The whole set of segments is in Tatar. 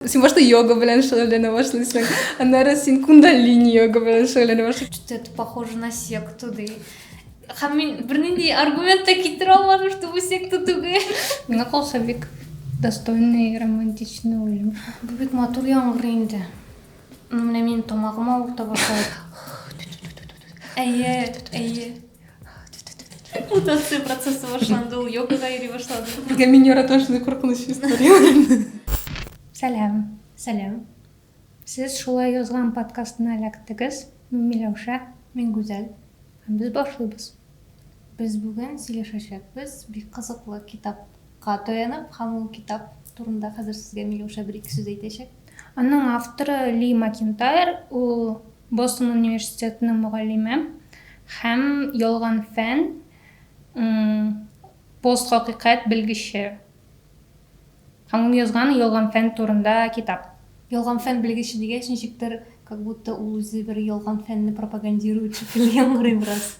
Син башта йога белән шөгыльләнә башлыйсың, аннары син кундалини йога белән шөгыльләнә башлыйсың. Что-то это похоже на секту, ди. Һәм мин бернинди аргумент та китерә алмадым, что бу секта түгел. Миңа калса бик достойный романтичный уен. Бу бик матур яңгыр инде. Менә минем тамагым авырта башлады. Әйе, әйе. Мутация процессы башланды, ул йогага йөри башлады. Безгә миньора ташны куркыныч история. Сәлам. Сәлам. Сез шулай язган подкастына эләктегез. Мин Миләүшә. Мин Гүзәл. Һәм без башлыйбыз. Без бүген сөйләшәчәкбез бик кызыклы китап Ка таянып һәм ул китап турында хәзер сезгә Миләүшә бер-ике сүз әйтәчәк. Аның авторы Ли Макентайр, ул Бостон университетының мөгаллиме һәм Ялган фән, постхакыйкать белгече. Һәм ул язган Ялган фән турында китап. Ялган фән белгече дигәч, ничектер, как будто ул үзе бер ялган фәнне пропагандирует шикелле яңгырый бераз.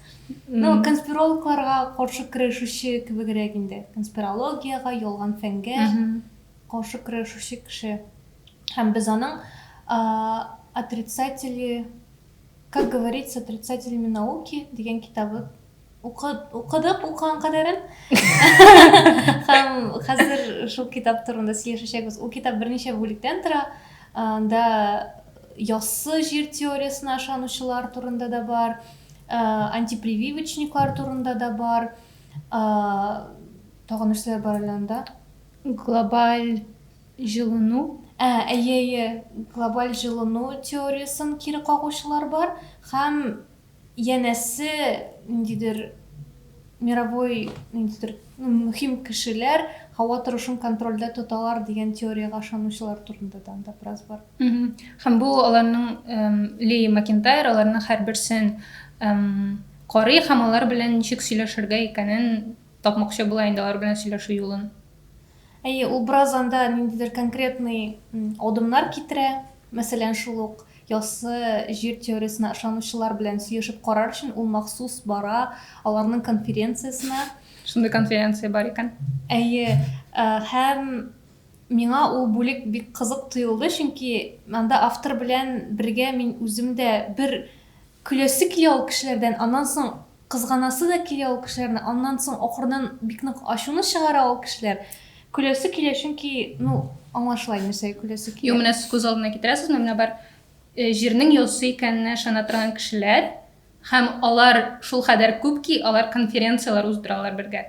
Ну, конспирологларга каршы көрәшүче кебегрәк инде. Конспирологиягә, ялган фәнгә каршы көрәшүче кеше. Һәм без аның отрицатели, как говорится, отрицателями науки дигән китабы укыдык укыган кадәрен һәм хәзер шул китап турында сөйләшәчәкбез ул китап берничә бүлектән тора анда яссы җир теориясенә ышанучылар турында да бар антипрививочниклар турында да бар тагын нәрсәләр бар әле анда глобаль жылыну ә әйе әйе глобаль жылыну теориясен кире кагучылар бар һәм Янәсе, ниндидер мировой, ниндидер мөһим кешеләр һава торышын контрольдә тоталар дигән теориягә ышанучылар турында да анда бераз бар. Һәм бу аларның Ли Макентайр аларның һәрберсен карый һәм алар белән ничек сөйләшергә икәнен тапмакчы була инде алар белән сөйләшү юлын. Әйе, ул бераз анда ниндидер конкретный адымнар китерә, мәсәлән, шул ук яссы җир теориясенә ышанучылар белән сөешеп карар өчен ул махсус бара аларның конференциясенә. Шундый конференция бар икән. Әйе, һәм миңа ул бүлек бик кызык тоелды, чөнки анда автор белән бергә мин үзем дә бер Көләсе килә ул кешеләрдән, аннан соң кызганасы да килә ул кешеләрне, аннан соң ахырдан бик нык ачуны чыгара ул кешеләр. Көләсе килә, чөнки, ну, аңа шулай нәрсәгә көләсе килә. Юк, менә сез күз алдына китерәсезме, менә бар э, җирнең йолсы икәненә ышана торган кешеләр, һәм алар шулкадәр күп ки, алар конференцияләр уздыралар бергә.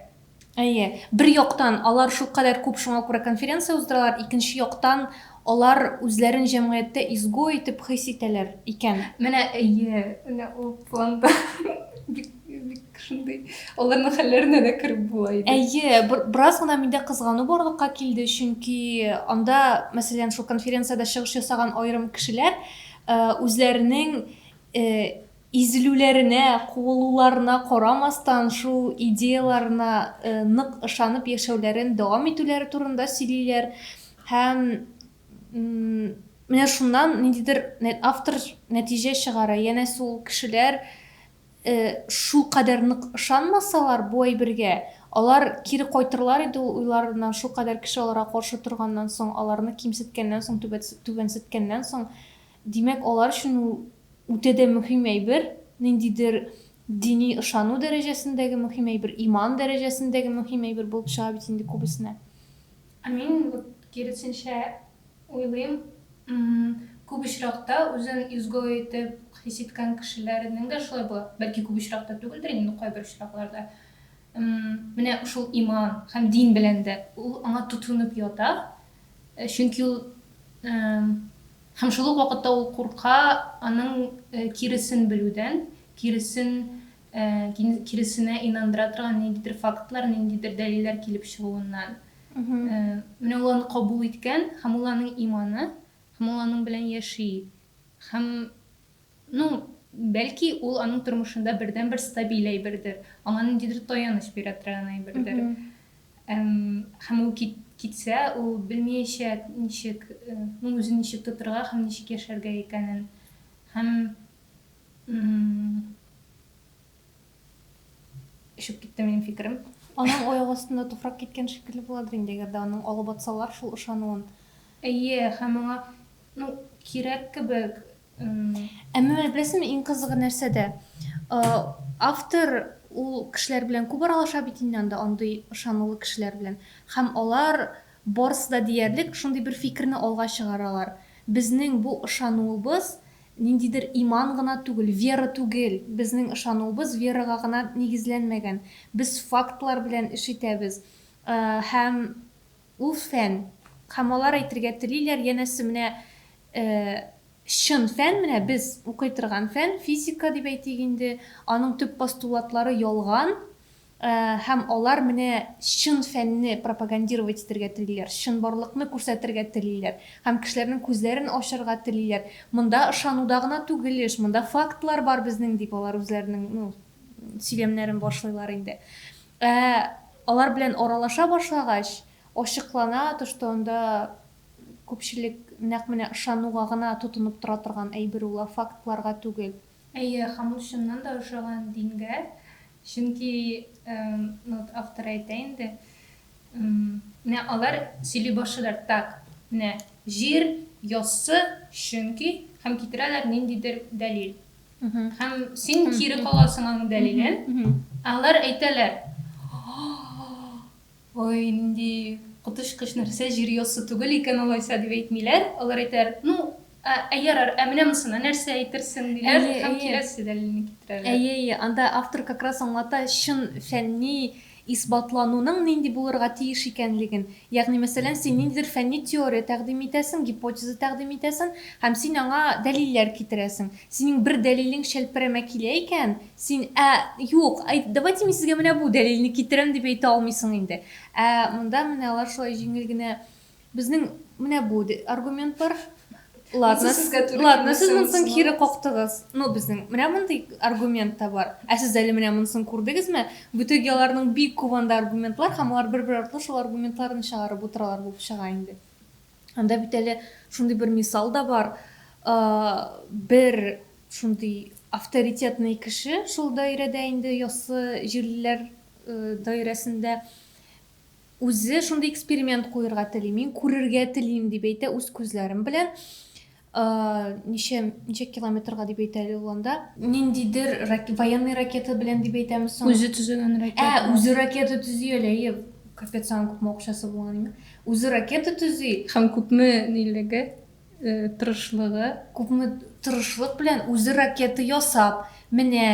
Әйе, бер яктан, алар шулкадәр күп, шуңа күрә конференция уздыралар, икенче яктан, алар үзләрен җәмгыятьтә изгой итеп хис итәләр икән. Менә, әйе, менә ул планда бик, бик шундый, аларның хәлләренә дә кереп була иде. Әйе, бераз гына миндә кызгану барлыкка килде, чөнки анда, мәсәлән, шул конференциядә чыгыш ясаган аерым кешеләр үзләренең Изелүләренә, куылуларына карамастан, шул идеяләренә нык ышанып яшәүләрен дәвам итүләре турында сөйлиләр. Һәм менә шуннан ниндидер автор нәтиҗә чыгара, янәсе ул кешеләр шулкадәр нык ышанмасалар бу әйбергә, алар кире кайтырлар иде ул уйларыннан, шулкадәр кеше аларга каршы торганнан соң, аларны кимсеткәннән соң, түбәнсеткәннән соң. Димәк, алар өчен ул үтә дә мөһим әйбер, ниндидер дини ышану дәрәҗәсендәге мөһим әйбер, иман дәрәҗәсендәге мөһим әйбер булып чыга бит инде күбесенә. Ә мин вот киресенчә уйлыйм, күп очракта үзен изгой итеп хис иткән кешеләрнең дә шулай була. Бәлки күп очракта түгелдер инде, но кайбер очракларда. Менә шул иман һәм дин белән дә ул аңа тотынып ята, Чөнки ул Һәм шул ук вакытта ул курка аның киресен белүдән, киресен киресенә инандыра торган ниндидер фактлар, ниндидер дәлилләр килеп чыгуыннан. Менә ул аны кабул иткән, һәм ул аның иманы, һәм ул аның белән яши. Һәм Ну, бәлки, ул аның тормышында бердәнбер стабиль әйбердер, аңа ниндидер таяныч бирә торган әйбердер. Һәм ул китсә, ул белмиячә, ничек, ну, үзен ничек тотырга һәм ничек яшәргә икәнен. Һәм очып китте минем фикерем. Аның аяк астында туфрак киткән шикелле буладыр инде, әгәр дә аның алып атсалар шул ышануын. Әйе, һәм аңа, ну, кирәк кебек, Ә менә беләсезме, иң кызыгы нәрсәдә? Автор ул кешеләр белән күп аралаша бит инде анда, андый ышанулы кешеләр белән. Һәм алар барысы да диярлек шундый бер фикерне алга чыгаралар, безнең бу ышануыбыз ниндидер иман гына түгел, вера түгел, безнең ышануыбыз верага гына нигезләнмәгән, без фактлар белән эш итәбез һәм Ул фән, һәм алар әйтергә телиләр, янәсе, менә чын фән, менә без укый торган фән, физика дип әйтик инде, аның төп постулатлары ялган, һәм алар менә чын фәнне пропагандировать итергә телиләр, чынбарлыкны күрсәтергә телиләр һәм кешеләрнең күзләрен ачарга телиләр, монда ышануда гына түгел эш, монда фактлар бар безнең, дип алар үзләренең, ну, сөйләмнәрен башлыйлар инде. Ә алар белән аралаша башлагач, ачыклана төште, анда күпчелек нәкъ менә ышануга гына тотынып тора торган әйбер ул, ә фактларга түгел. Әйе, Хамут чыннан да ошаган дингә, чөнки, ну вот автор әйтә инде, менә алар сөйли башлыйлар, так, менә җир яссы, чөнки, һәм китерәләр ниндидер дәлил. Һәм син кире каласың аның дәлилен. Алар әйтәләр. Ой, нинди коточкыч нәрсә, җир яссы түгел икән алайса дип әйтмиләр. Алар әйтәләр, ну, ә, ә ярар, ә менә монысына нәрсә әйтерсең диләр һәм киләсе дәлилне китерәләр. Әйе, әйе, анда автор как раз аңлата чын фәнни исбатлануның нинди булырга тиеш икәнлеген, ягъни, мәсәлән, син ниндидер фәнни теория тәкъдим итәсең, гипотеза тәкъдим итәсең һәм син аңа дәлилләр китерәсең. Синең бер дәлилең чәлпәрәмә килә икән, син, Ә, юк, әйт, давайте мин сезгә менә бу дәлилне китерәм, дип әйтә алмыйсың инде. Ә монда менә алар шулай җиңел генә Безнең менә бу аргументлар. Ладно, ладно, сез монсын кире коктыгыз. Ну, безнең менә мондый аргумент та бар. Ә сез әле менә монсын күрдегезме? Бүтек яларның бик күп анда аргументлар, һәм алар бер-бер артлы шул аргументларны чыгарып утыралар булып чыга инде. Анда бит әле шундый бер мисал да бар. Бер шундый авторитетный кеше шул даирәдә инде яссы җирлеләр даирәсендә Үзе шундый эксперимент куерга тели, мин күрергә телим дип әйтә үз күзләрем белән. Ничә ничә километрга дип әйтә әле ул анда? Ниндидер военный ракета белән дип әйтәме соң? Үзе төзегән ракета. Ә, үзе ракета төзи әле, әйе. Капец, аның күпме акчасы булган име? Үзе ракета төзи. Һәм күпме нилеге? Тырышлыгы, күпме тырышлык белән үзе ракета ясап, менә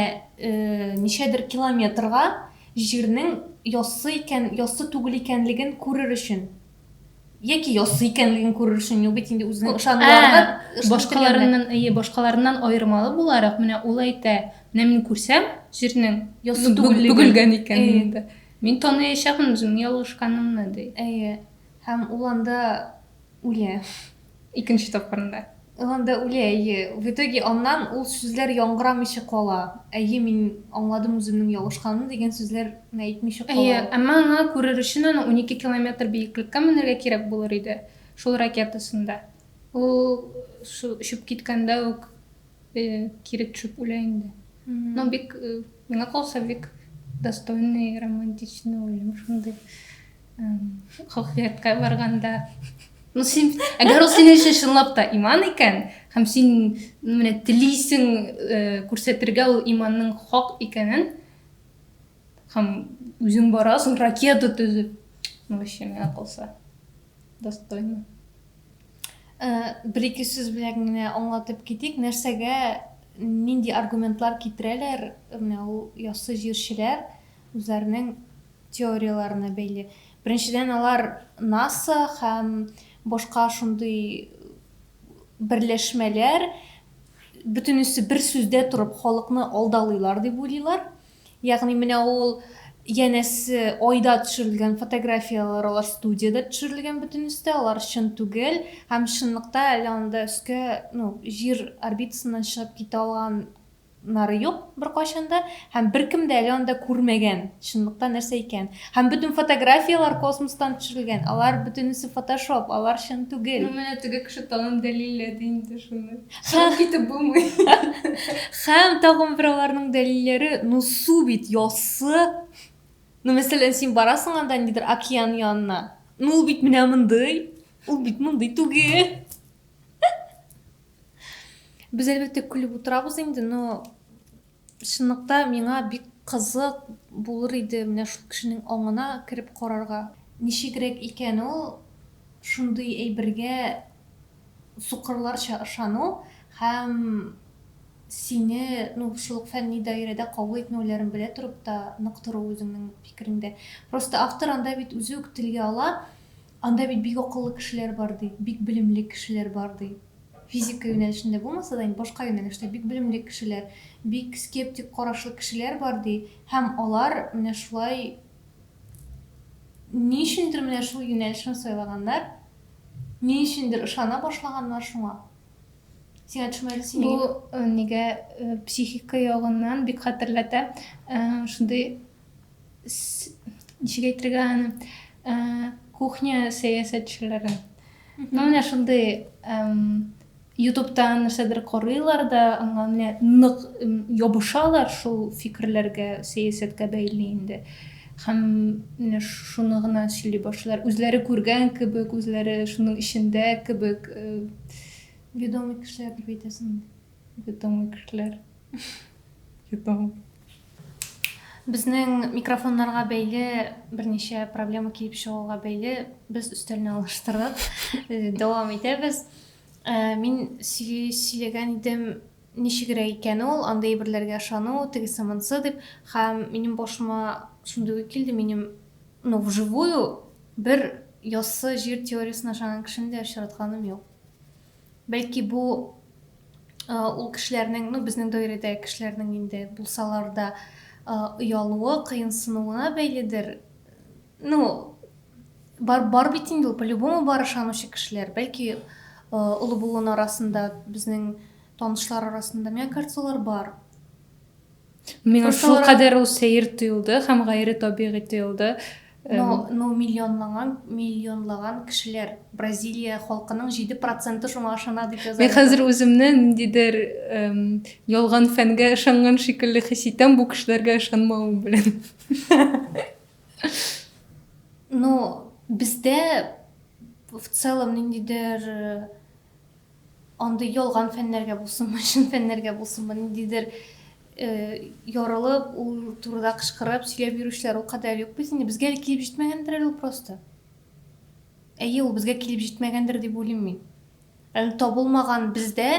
ничәдер километрга җирнең яссы икән, яссы түгел икәнлеген күрер өчен. Яки яссы икәнлеген күрер өчен, юк бит инде үзенең ышануларына. Башкаларыннан, әйе, башкаларыннан аермалы буларак, менә ул әйтә, менә мин күрсәм, җирнең яссы түгеллеген, бөгелгән икәнен, мин таныячакмын үземнең ялгышканымны, ди. Әйе. Һәм ул анда Үлә. Икенче тапкырында. Ул анда үлә, әйе. В итоге аннан ул сүзләр яңгырамыйча кала. Әйе, мин аңладым үземнең ялгышканымны дигән сүзләрне әйтмичә кала Әйе, ул. әмма аңа күрер өчен аны унике километр биеклеккә менәргә кирәк булыр иде, шул ракетасында. Ул шул очып киткәндә үк кире төшеп үлә инде. Ну, бик, миңа калса, бик достойный, романтичный үлем шундый. хохвиятка барганда ну син әгәр ул синең өчен чынлап та иман икән һәм син менә телисең э, күрсәтергә ул иманның хак икәнен һәм үзең барасың ракета төзеп ну вообще миңа калса достойно э, бер ике сүз белән генә аңлатып китик нәрсәгә нинди аргументлар китерәләр менә ул яссы җырчылар үзләренең теорияләренә бәйле. Беренчедән, алар НАСА һәм башка шундый берләшмәләр бөтенесе бер сүздә торып халыкны алдалыйлар дип уйлыйлар. Ягъни менә ул янәсе айда төшерелгән фотографияләр алар студиядә төшерелгән бөтенесе дә, алар чын түгел һәм чынлыкта әле анда өскә, ну, җир орбитасыннан чыгып китә алган Нары юк беркайчан да, һәм беркем дә әле анда күрмәгән, чынлыкта нәрсә икән. Һәм бөтен фотографияләр космостан төшерелгән, алар бөтенесе фотошоп, алар чын түгел. Ну менә теге кеше тагын дәлилләде инде шуны. Чыгып китеп булмый. Һәм тагын бер аларның дәлилләре, ну су бит яссы. Ну мәсәлән, син барасың анда нидер океан янына. Ну ул бит менә мондый, ул бит мондый түгел. Без әлбәттә көлеп утырабыз инде, но чынлыкта миңа бик кызык булыр иде менә шул кешенең аңына кереп карарга. Ничегрәк икән ул шундый әйбергә сукырларча ышану һәм сине, ну, шул ук фәнни даирәдә кабул итмәүләрен белә торып та нык тору үзеңнең фикереңдә. Просто автор анда бит үзе үк телгә ала, Анда бит бик акыллы кешеләр бар, ди, бик белемле кешеләр бар, ди. Физика юнәлешендә булмаса да, инде башка юнәлештә бик белемле кешеләр, бик скептик карашлы кешеләр бар, ди, һәм алар менә шулай ни өчендер менә шул юнәлешне сайлаганнар, ни өчендер ышана башлаганнар шуңа. Сиңа төшмәде, син Бу нигә? нигә психика ягыннан бик хәтерләтә. Шундый ничек әйтергә аны ә, кухня сәясәтчеләре ну менә шундый ютубтан нәрсәдер карыйлар да аңа менә нык ябышалар шул фикерләргә сәясәткә бәйле инде һәм менә шуны гына сөйли башлар үзләре күргән кебек үзләре шуның эчендә кебек э, ведомый кешеләрдер бит әсен Йотамы кешеләр. Йотамы. Безнең микрофоннарга бәйле берничә проблема килеп чыгуга бәйле без өстәлне алыштырдык. Э, дәвам итәбез. Э, мин сөйләгән идем ничегрәк икән ул, андый әйберләргә ышану, тегесе монсы дип, һәм минем башыма шундый килде, минем ну, вживую бер яссы җир теориясенә ышанган кешене дә очратканым юк. Бәлки бу ул кешеләрнең, ну безнең даирәдәге кешеләрнең инде булсалар да оялуы, кыенсынуына бәйледер. Ну, бар, бар бит инде ул, по-любому бар ышанучы кешеләр. Бәлки олы булуын арасында, безнең танышлар арасында, мне кажется, олар бар. Миңа Просто шул алар- кадәр ул сәер тоелды һәм гайре табигый тоелды. Эм, Но, но миллионлаган, миллионлаган кешеләр, Бразилия халкының 7 проценты шуңа ышана, дип яза. Мин хәзер үземне ниндидер эм, ялган фәнгә ышанган шикелле хис итәм бу кешеләргә ышанмавым белән. Ну, бездә в целом ниндидер э, Андый ялган фәннәргә булсынмы, чын фәннәргә булсынмы, ниндидер ярылып, ул турыда кычкырып, сөйләп йөрүчеләр ул кадәр юк бит инде. Безгә әле килеп җитмәгәндер әле ул просто. Әйе, ул безгә килеп җитмәгәндер дип уйлыйм мин. Әле табылмаган бездә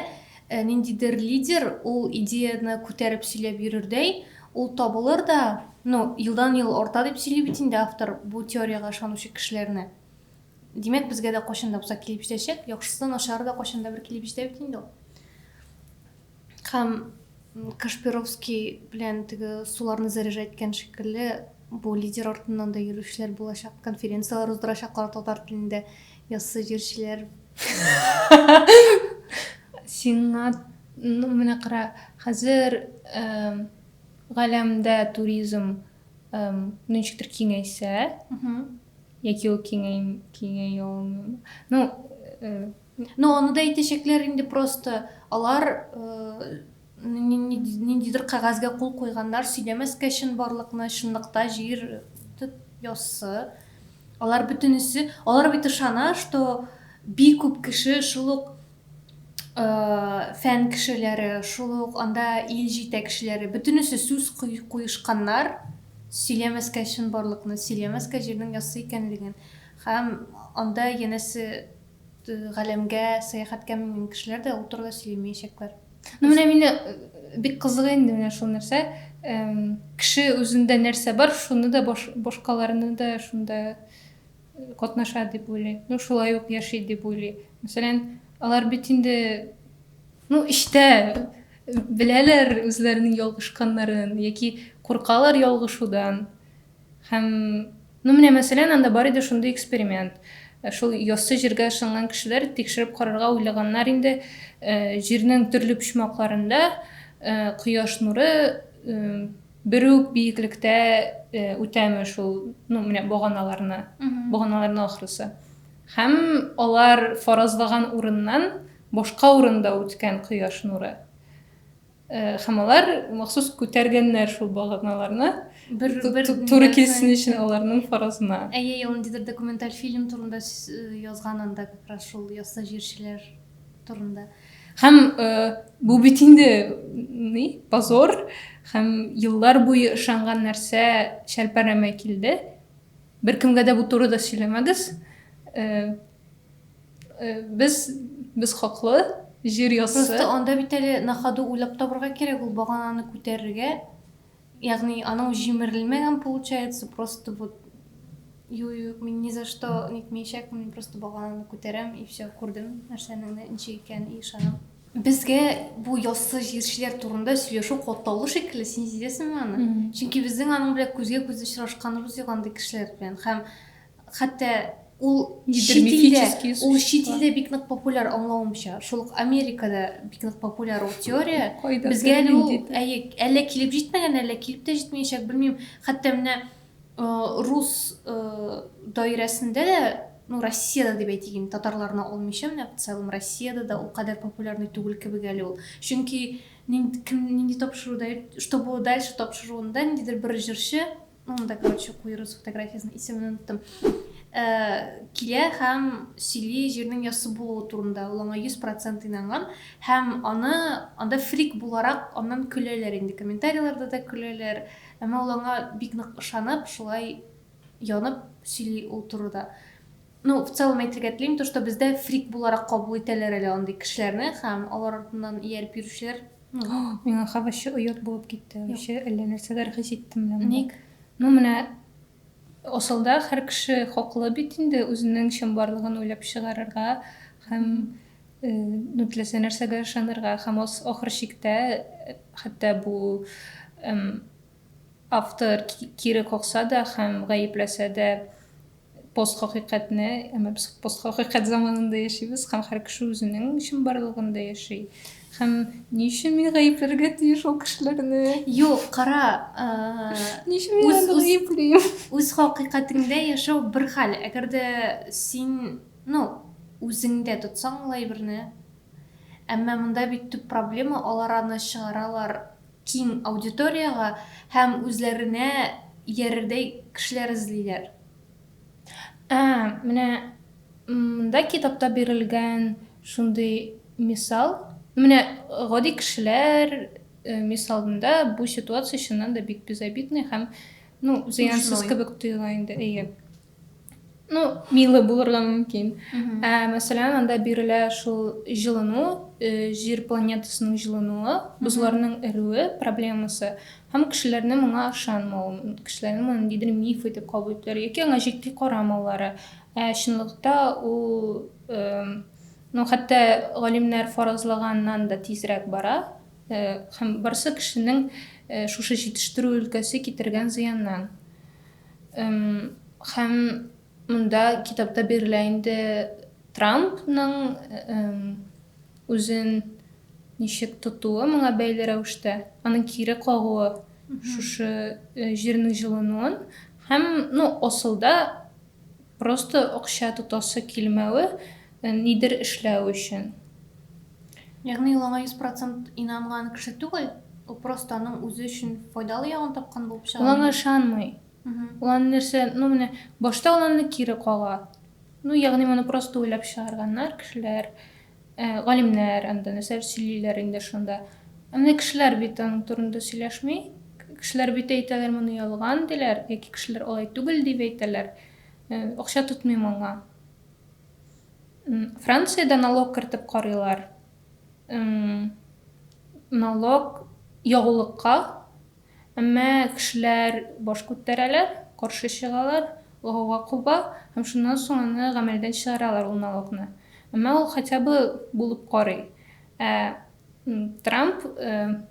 э, ниндидер лидер ул идеяны күтәреп сөйләп йөрердәй, ул табылыр да, ну, елдан-ел арта дип сөйли бит инде автор бу теориягә ышанучы кешеләрне. Димәк, безгә дә кайчан да булса килеп җитәчәк. Яхшысы да, начары да кайчан да бер килеп җитә бит инде ул. Һәм Кашпировский белән теге суларны заряжать иткән шикелле, бу лидер артыннан да йөрүчеләр булачак, конференцияләр уздырачаклар татар телендә, яссы җырчылар. Сиңа, ну, менә кара, хәзер галәмдә туризм ничектер киңәйсә, Яки ул киңәя алмыймы? Ну, Ну, аны да әйтәчәкләр инде просто. Алар ниндидер кәгазьгә кул куйганнар, сөйләмәскә чын барлыкны, чынлыкта җир яссы. Алар бөтенесе, алар бит ышана, что бик күп кеше шул ук фән кешеләре, шул ук анда ил җитәкчеләре, бөтенесе сүз куешканнар, сөйләмәскә чынбарлыкны, сөйләмәскә җирнең яссы икәнлеген һәм анда янәсе галәмгә сәяхәткә менгән кешеләр дә ул турыда сөйләмәячәкләр. Ну менә мине бик кызыгы инде менә шул нәрсә. Кеше үзендә нәрсә бар, шуны да башкаларны да шунда катнаша дип уйлый, ну шулай ук яши дип уйлый. Мәсәлән, алар бит инде ну эчтә беләләр үзләренең ялгышканнарын яки куркалар ялгышудан. Һәм ну менә мәсәлән, анда бар иде шундый эксперимент. Э, шул яссы җиргә ышанган кешеләр тикшереп карарга уйлаганнар инде э, җирнең төрле почмакларында э, кояш нуры Бер үк биеклектә үтәме шул, ну, менә боганаларны, боганаларны ахрысы. Һәм алар фаразлаган урыннан башка урында үткән кояш нуры. Һәм алар махсус күтәргәннәр шул боганаларны, туры килсен өчен аларның фаразына. Әйе, ел ниндидер документаль фильм турында язган анда как раз шул яссы җирчеләр турында. Һәм э, бу бит инде ни, позор һәм еллар буе ышанган нәрсә шәлпәрәмә килде. Беркемгә дә бу турыда сөйләмәгез. Э, э, без без хаклы, җир яссы. Просто анда бит әле на ходу уйлап табырга кирәк ул багананы күтәрергә. Ягъни анау җимерелмәгән получается, просто вот юк, юк, мин ни за что нитмәячәкмен, просто багананы күтәрәм и все, күрдем нәрсәнең ничек икәнен и ышанам. Безгә бу яссы җирчеләр турында сөйләшү катлаулы шикелле, син сизәсеңме аны? Чөнки безнең аның белән күзгә-күз очрашканыбыз юк андый кешеләр белән. Һәм Хәтта ул чит илдә, ул чит илдә бик нык популяр аңлавымча. Шул ук Америкада бик нык популяр ул теория. Безгә әле ул, әйе, әллә килеп җитмәгән, әллә килеп тә җитмәячәк, белмим. Хәтта менә рус даирәсендә дә, ну, Россиядә дип әйтик инде, татарларны алмыйча, менә в целом Россиядә дә ул кадәр популярный түгел кебек әле ул. Чөнки нинди тапшыруда, что было дальше тапшыруында ниндидер бер җырчы Монда, короче, куерус фотографиясенең исемен оныттым. Э, килә һәм сөйли җирнең яссы булуы турында. Ул аңа 100% инанган һәм аны анда фрик буларак аннан көләләр инде. Комментарийларда да көләләр. Әмма ул аңа бик нык ышанып, шулай янып сөйли ул турыда. Ну, в целом әйтергә телим, то, что бездә фрик буларак кабул итәләр әле андый кешеләрне һәм алар артыннан ияреп йөрүчеләр. Миңа һәм вообще оят булып китте, вообще әллә нәрсәләр хис иттем менә монда. Ник? Ну, менә асылда һәр кеше хаклы бит инде үзенең чынбарлыгын уйлап чыгарырга һәм, ну, теләсә нәрсәгә ышанырга һәм ахыр чиктә хәтта бу автор кире какса да һәм гаепләсә дә, Постхакыйкатьне, әмма без постхакыйкать заманында яшибез, һәм һәр кеше үзенең чынбарлыгында яши. Һәм ни өчен мин гаепләргә тиеш ул кешеләрне? Юк, кара, ни өчен мин аны гаеплим? Үз хакыйкатеңдә яшәү бер хәл. Әгәр дә син, ну, үзеңдә тотсаң ул әйберне, әмма монда бит төп проблема, алар аны чыгаралар киң аудиториягә һәм үзләренә иярердәй кешеләр эзлиләр. Ә менә монда китапта бирелгән шундый мисал, менә гади кешеләр мисалында бу ситуация чыннан да бик безобидный һәм, ну, зыянсыз кебек тоела инде, әйе. ну милы булырга мөмкин ә мәсәлән анда бирелә шул җылыну җир планетасының җылынуы бозларның эруе проблемасы һәм кешеләрне моңа ышанмау кешеләрне моны ниндидер миф итеп кабул итүләре яки аңа җитди карамаулары ә чынлыкта ул ну хәтта галимнәр фаразлаганнан да тизрәк бара һәм барысы кешенең шушы җитештерү өлкәсе китергән зыяннан Һәм монда китапта бирелә инде Трампның үзен ничек тотуы моңа бәйле рәвештә, аның кире кагуы шушы җирнең җылынуын һәм, ну, асылда Просто акча тотасы килмәве, нидер эшләү өчен. Ягъни ул аңа йөз процент инанган кеше түгел, ул просто аның үзе өчен файдалы ягын тапкан булып чыга. Ул аңа ышанмый. Ул аны нәрсә, ну менә, башта ул аны кире кага. Ну, ягъни моны просто уйлап чыгарганнар кешеләр. Ә галимнәр анда нәрсәләр сөйлиләр инде шунда? Ә менә кешеләр бит аның турында сөйләшми. Кешеләр бит әйтәләр, моны ялган, диләр, яки кешеләр алай түгел дип әйтәләр. Э, акча тотмыйм аңа. Франциядә налог кертеп карыйлар. Налог ягулыкка Әмма кешеләр баш күтәрәләр, каршы чыгалар, гауга куба һәм шуннан соң аны гамәлдән чыгаралар ул налогны. Әмма ул хотя бы булып карый. Ә Трамп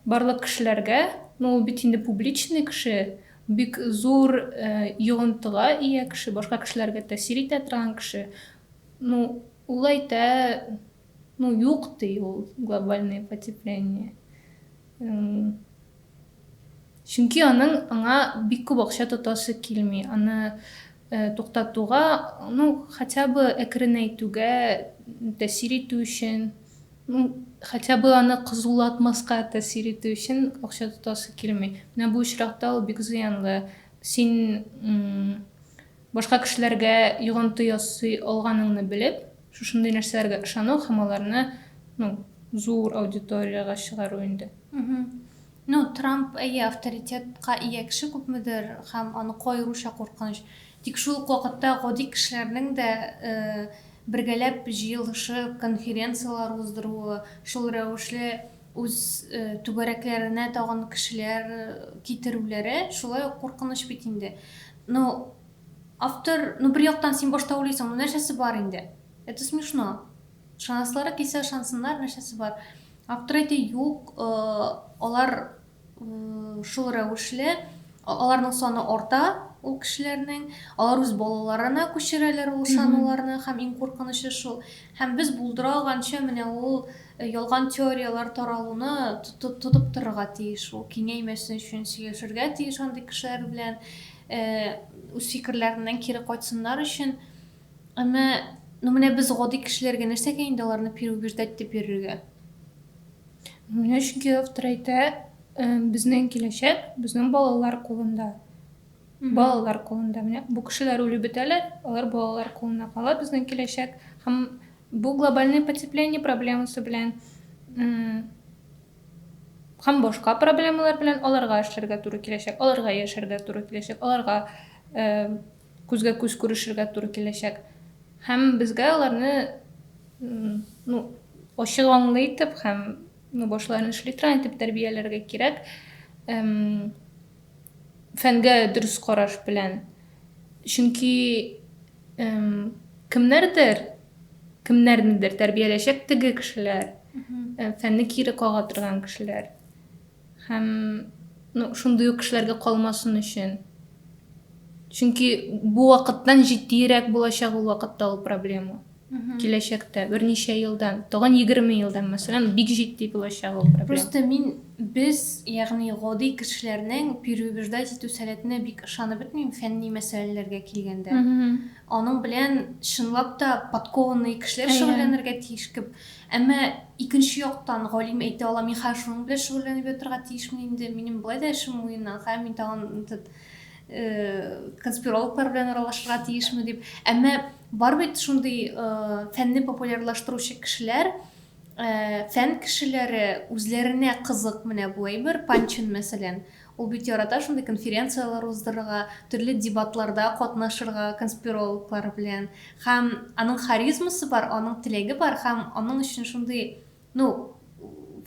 барлык кешеләргә, ну ул бит инде публичный кеше, бик зур йогынтыга ия кеше, башка кешеләргә тәэсир итә торган кеше, ну ул әйтә, ну юк ди ул глобальное потепление. Чөнки аның аңа бик күп акча тотасы килми, аны туктатуга, ну, хотя бы әкренәйтүгә тәэсир итү өчен, ну, хотя бы аны кызулатмаска тәэсир итү өчен акча тотасы килми. Менә бу очракта ул бик зыянлы. Син Башка кешеләргә йогынты ясый алганыңны белеп, шушындый нәрсәләргә ышану һәм аларны, ну, зур аудиториягә чыгару инде. Ну, Трамп, әйе, авторитетка ия кеше күпмедер, һәм аныкы аеруча куркыныч. Тик шул ук вакытта гади кешеләрнең дә бергәләп җыелышып, конференцияләр уздыруы, шул рәвешле Үз түгәрәкләренә тагын кешеләр китерүләре шулай ук куркыныч бит инде. Ну, автор, ну бер яктан син башта уйлыйсың, ну нәрсәсе бар инде? Это смешно. Ышанасылары килсә ышансыннар, нәрсәсе бар. Автор әйтә, юк, алар Шул рәвешле аларның саны арта, ул кешеләрнең. Алар үз балаларына күчерәләр ул сануларны, һәм иң куркынычы шул. Һәм без булдыра алганча менә ул э, ялган теорияләр таралуны тотып торырга тиеш, ул киңәймәсен өчен сөйләшергә тиеш андый кешеләр белән, э, үз фикерләреннән кире кайтсыннар өчен. Әмма, ну менә без гади кешеләргә нәрсәгә инде аларны переубеждать дип йөрергә? Менә чөнки автор әйтә, безнең киләчәк безнең балалар кулында. Балалар кулында. Менә бу кешеләр үлеп бетәләр, алар балалар кулына кала безнең киләчәк. Һәм бу глобальный потепление проблемасы белән һәм башка проблемалар белән аларга эшләргә туры киләчәк, аларга яшәргә туры киләчәк, аларга Күзгә-күз күрешергә туры киләчәк. Һәм безгә аларны, ну, ачык аңлы итеп һәм, ну, башларын шлитран итеп тәрбияләргә кирәк. Фәнгә дөрес караш белән. Чөнки кемнәрдер, кемнәрнедер тәрбияләячәк теге кешеләр, фәнне кире кага торган кешеләр. Һәм, ну, шундый ук кешеләргә калмасын өчен. Чөнки бу вакыттан җитдиерәк булачак ул вакытта ул проблема. Киләчәктә, берничә елдан, тагын 20 елдан, мәсәлән, бик җитди булачак ул проблема. Просто мин без, ягъни гади кешеләрнең переубеждать итү сәләтенә бик ышанып бетмим фәнни мәсьәләләргә килгәндә. Аның белән чынлап та подкованный кешеләр шөгыльләнергә тиеш кебек. Әмма икенче яктан, галим әйтә ала, мин хәзер шуның белән шөгыльләнеп ятарга тиешмени инде, минем болай да эшем муеннан, хәзер мин тагын этот конспирологлар белән аралашырга тиешме дип. Әмма бар бит шундый фәнне популярлаштыручы кешеләр, фән кешеләре үзләренә кызык менә бу әйбер, Панчин мәсәлән, Ул бит ярата шундый конференцияләр уздырырга, төрле дебатларда катнашырга конспирологлар белән. Һәм аның харизмасы бар, аның теләге бар һәм аның өчен шундый, ну,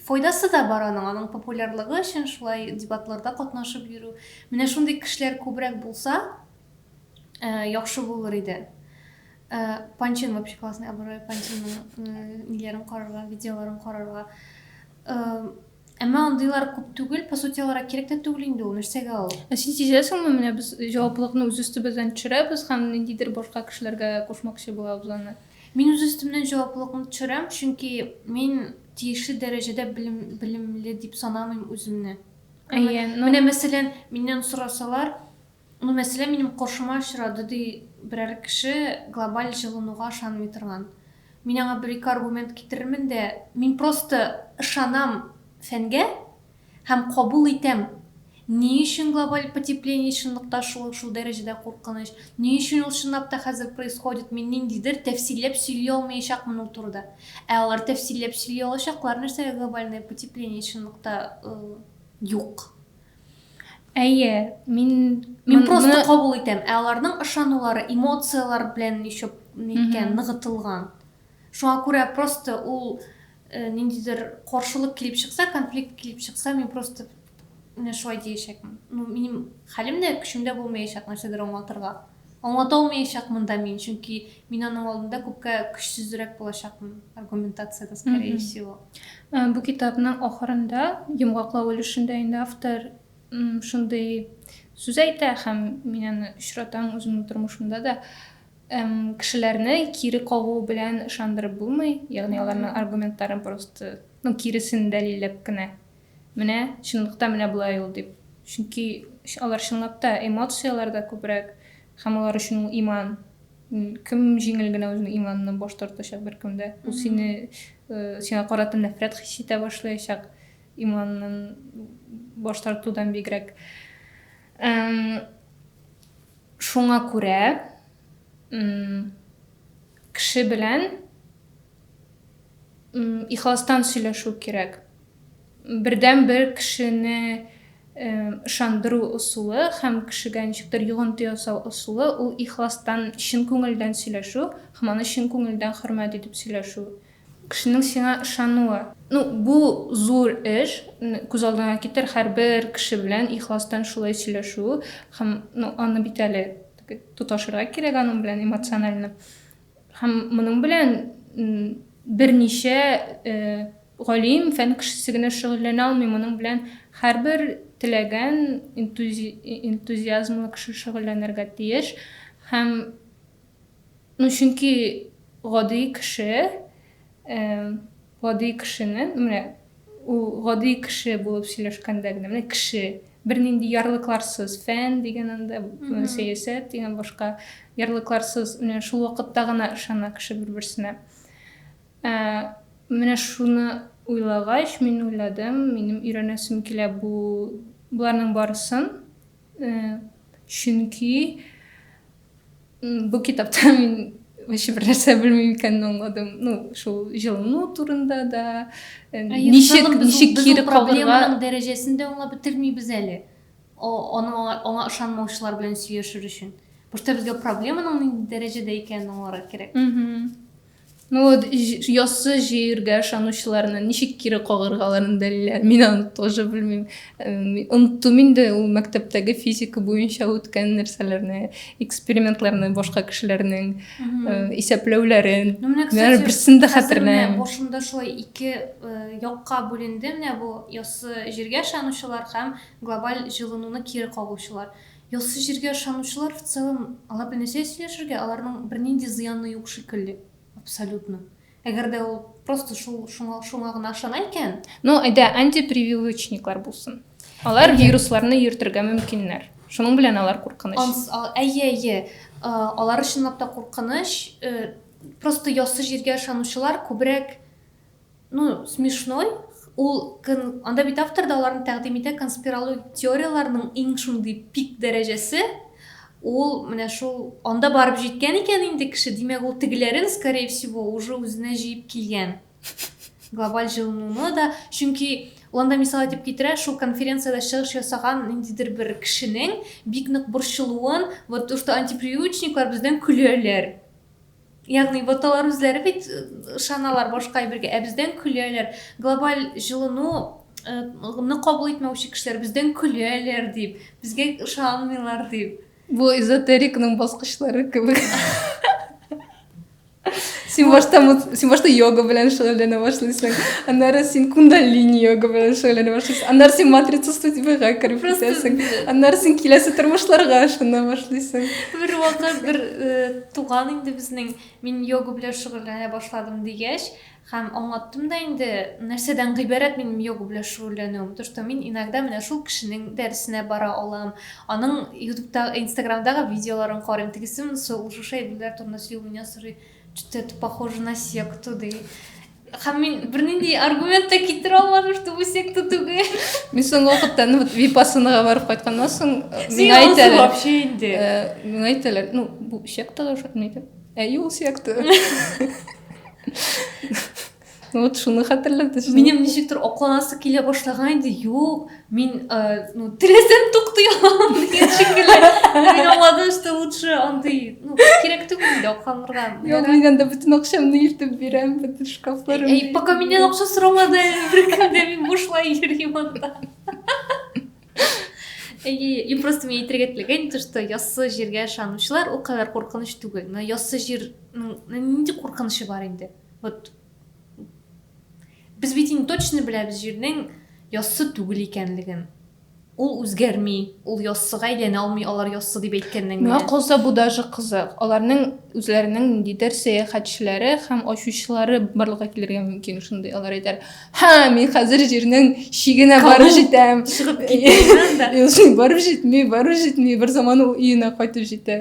файдасы да бар аның, аның популярлыгы өчен шулай дебатларда катнашып йөрү. Менә шундый кешеләр күбрәк булса, э, яхшы булыр иде. Э, Панчин вообще классный образ, Панчинның э, ниләрен карарга, видеоларын карарга. Э, Әмма андыйлар күп түгел, по сути алар кирәк тә түгел инде ул, нәрсәгә ул? Ә син сизәсеңме, менә без җаваплылыкны үз өстебездән төшерәбез һәм ниндидер башка кешеләргә кушмакчы булабыз аны? Мин үз өстемнән җаваплылыкны төшерәм, чөнки мин тиешле дәрәҗәдә белем, белемле дип санамыйм үземне. Әйе, ну... Менә мәсәлән, миннән сорасалар, Ну, мәсьәлә минем каршыма очрады, ди берәр кеше, глобаль җылынуга ышанмый торган. Мин аңа бер-ике аргумент китерермен дә, мин просто ышанам фәнгә һәм кабул итәм, ни өчен глобаль потепление чынлыкта шул, шул дәрәҗәдә куркыныч, ни өчен ул чынлап та хәзер происходит, мин ниндидер тәфсилләп сөйли алмаячакмын ул турыда. Ә алар тәфсилләп сөйли алачаклар, нәрсәгә глобальное потепление чынлыкта юк. Әйе, мин мин просто кабул итәм, ә аларның ышанулары, эмоцияләр белән ещё ниткән, ныгытылган. Шуңа күрә просто ул э, ниндидер каршылык килеп чыкса, конфликт килеп чыкса, мин просто менә шулай диячәкмен. Ну, минем хәлем дә, көчем дә булмаячак нәрсәдер аңлатырга. Аңлата алмаячак монда мин, чөнки мин аның алдында күпкә көчсезрәк булачакмын аргументациядә, скорее всего. Бу китапның ахырында, йомгаклау өлешендә инде автор шундый сүз әйтә, һәм мин аны очратам үземнең тормышымда да, кешеләрне кире кагу белән ышандырып булмый, ягъни аларның аргументларын просто, ну, киресен дәлилләп кенә. Менә, чынлыкта менә болай ул, дип. Чөнки алар чынлап та эмоцияләрдә күбрәк, һәм алар өчен ул иман. Кем җиңел генә үзенең иманыннан баш тартачак беркем дә. Ул сине, сиңа карата нәфрәт хис итә башлаячак, иманыннан баш тартудан бигрәк. Шуңа күрә кеше белән Ихластан сөйләшү кирәк. Бердәнбер кешене ышандыру ысулы һәм кешегә ничектер йогынты ясау ысулы ул ихластан, чын күңелдән сөйләшү һәм аны чын күңелдән хөрмәт итеп сөйләшү. Кешенең сиңа ышануы. Ну, бу зур эш. Күз алдыңа китер, һәрбер кеше белән ихластан шулай сөйләшү һәм, ну, аны бит әле тоташырга кирәк аның белән эмоционально. Һәм моның белән берничә галим, фән кешесе генә шөгыльләнә алмый, моның белән һәрбер теләгән энтузиазмлы кеше шөгыльләнергә тиеш. Һәм ну чөнки гади кеше Гади кешене, менә ул гади кеше булып сөйләшкәндә генә, менә кеше, бернинди ярлыкларсыз, фән дигән анда, сәясәт дигән башка, ярлыкларсыз, менә шул вакытта гына ышана кеше бер-берсенә. Ә, менә шуны уйлагач, мин уйладым, минем өйрәнәсем килә бу, боларның барысын, Чөнки бу китапта мин вообще бер нәрсә белмим икәнен аңладым. Ну, шул җылыну турында да, ничек ничек кире калырга дәрәҗәсен дә аңлап бетермибез әле. Аңа аңа ышанмаучылар белән сөйләшер өчен. Просто безгә проблеманың нинди дәрәҗәдә икәнен аңларга кирәк. Ну вот яссы җиргә ышанучыларны ничек кире кагыргаларын беләләр. Мин аны тоже белмим. Оныттым инде ул мәктәптәге физика буенча үткән нәрсәләрне, экспериментларны, башка кешеләрнең исәпләүләрен. Ну менә кстати, берсен дә хәтерләмим. Башымда шулай ике якка бүленде менә бу яссы җиргә ышанучылар һәм глобаль җылынуны кире кагучылар. Яссы җиргә ышанучылар в целом алар белән нәрсә сөйләшергә, аларның бернинди зыяны юк шикелле, абсолютно. Әгәр дә ул просто шул шуңа, шуңа гына ышана икән. Ну, әйдә, антипрививочниклар булсын. Алар вирусларны йөртергә мөмкиннәр. Шуның белән алар куркыныч. Әйе, әйе. Алар чынлап та куркыныч. Просто яссы җиргә ышанучылар күбрәк Ну, смешной, ул кын, анда бит автор да аларны тәкъдим итә, конспирологик теорияләрнең иң шундый пик дәрәҗәсе, ул менә шул анда барып җиткән икән инде кеше, димәк, ул тегеләрен, скорее всего, уже үзенә җыеп килгән. Глобаль җылынуны да, чөнки Ланда мисал итеп китерә, шул конференциядә чыгыш ясаган ниндидер бер кешенең бик нык борчылуын, вот то, что антипривычниклар бездән көләләр. Ягъни боталар үзләре бит ышаналар башка әйбергә, ә бездән көләләр. Глобаль җылыну ны кабул итмәүче кешеләр бездән көләләр дип, безгә ышанмыйлар дип. Бу эзотерикның баскычлары кебек. Син башта син башта йога белән шөгыльләнә башлыйсың. Аннары син кундалини йога белән шөгыльләнә башлыйсың. Аннары син матрица студияга кереп китәсең. Аннары син киләсе тормышларга ышана башлыйсың. Бер вакыт бер Туган инде безнең, мин йога белән шөгыльләнә башладым, дигәч, һәм аңлаттым да инде, нәрсәдән гыйбарәт минем йога белән шөгыльләнүем, то, что мин иногда менә шул кешенең дәресенә бара алам, аның ютубта, инстаграмдагы видеоларын карыйм, тегесе монысы ул шушы әйберләр турында сөйли, ул миннән сорый, чё-то это похоже на секту, ди. Һәм мин бернинди аргумент та китерә алмадым, что бу секта түгел. Мин соңгы вакытта ну вот випассанаға барып кайтканнан соң миңа әйтәләр. Вообще инде. Миңа әйтәләр, ну бу сектага шулмы икән? Әй ул секта. Ну вот шуны хәтерләтте. Минем ничектер акланасы килә башлаган инде. Юк, Мин, ну, теләсәм туктый алам дигән шикелле. Мин аңладым, что лучше андый, ну, кирәк түгел инде акламырга. Юк, мин анда бөтен акчамны илтеп бирәм, бөтен шкафларым. Эй, пока миннән акча сорамады, бер кемдә мин бушлай йөрим анда. И просто мен әйтергә теләгән то что яссы җиргә ышанучылар ул кадәр куркыныч түгел но яссы җирнең нинди куркынычы бар инде вот Без бит инде точно беләбез җирнең яссы түгел икәнлеген. Ул үзгәрми, ул яссыга әйләнә алмый, алар яссы дип әйткәннән генә. Миңа калса бу даже кызык. Аларның үзләренең ниндидер сәяхәтчеләре һәм ачучылары барлыкка килергә мөмкин шундый. Алар әйтәр, һә, мин хәзер җирнең чигенә барып җитәм. Чыгып китәм да. Юсын барып җитми, барып җитми, бер заман ул өенә кайтып җитә.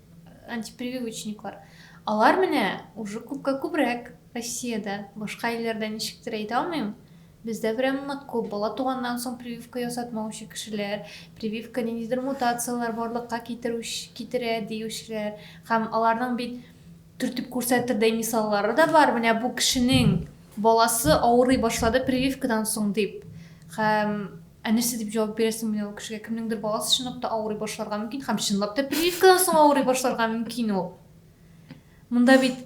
антипрививочниклар. Алар менә уже күпкә күбрәк Россиядә. Башка илләрдә ничектер әйтә алмыйм. Бездә прям нык күп. Бала туганнан соң прививка ясатмаучы кешеләр, прививка ниндидер мутацияләр барлыкка китерүч, китерә диючеләр. Һәм аларның бит төртеп күрсәтердәй мисаллары да бар. Менә бу кешенең баласы авырый башлады прививкадан соң дип. Һәм Ә нәрсә дип җавап бирәсең менә ул кешегә? Кемнеңдер баласы чынлап та авырый башларга мөмкин һәм чынлап та прививкадан соң авырый башларга мөмкин ул. Монда бит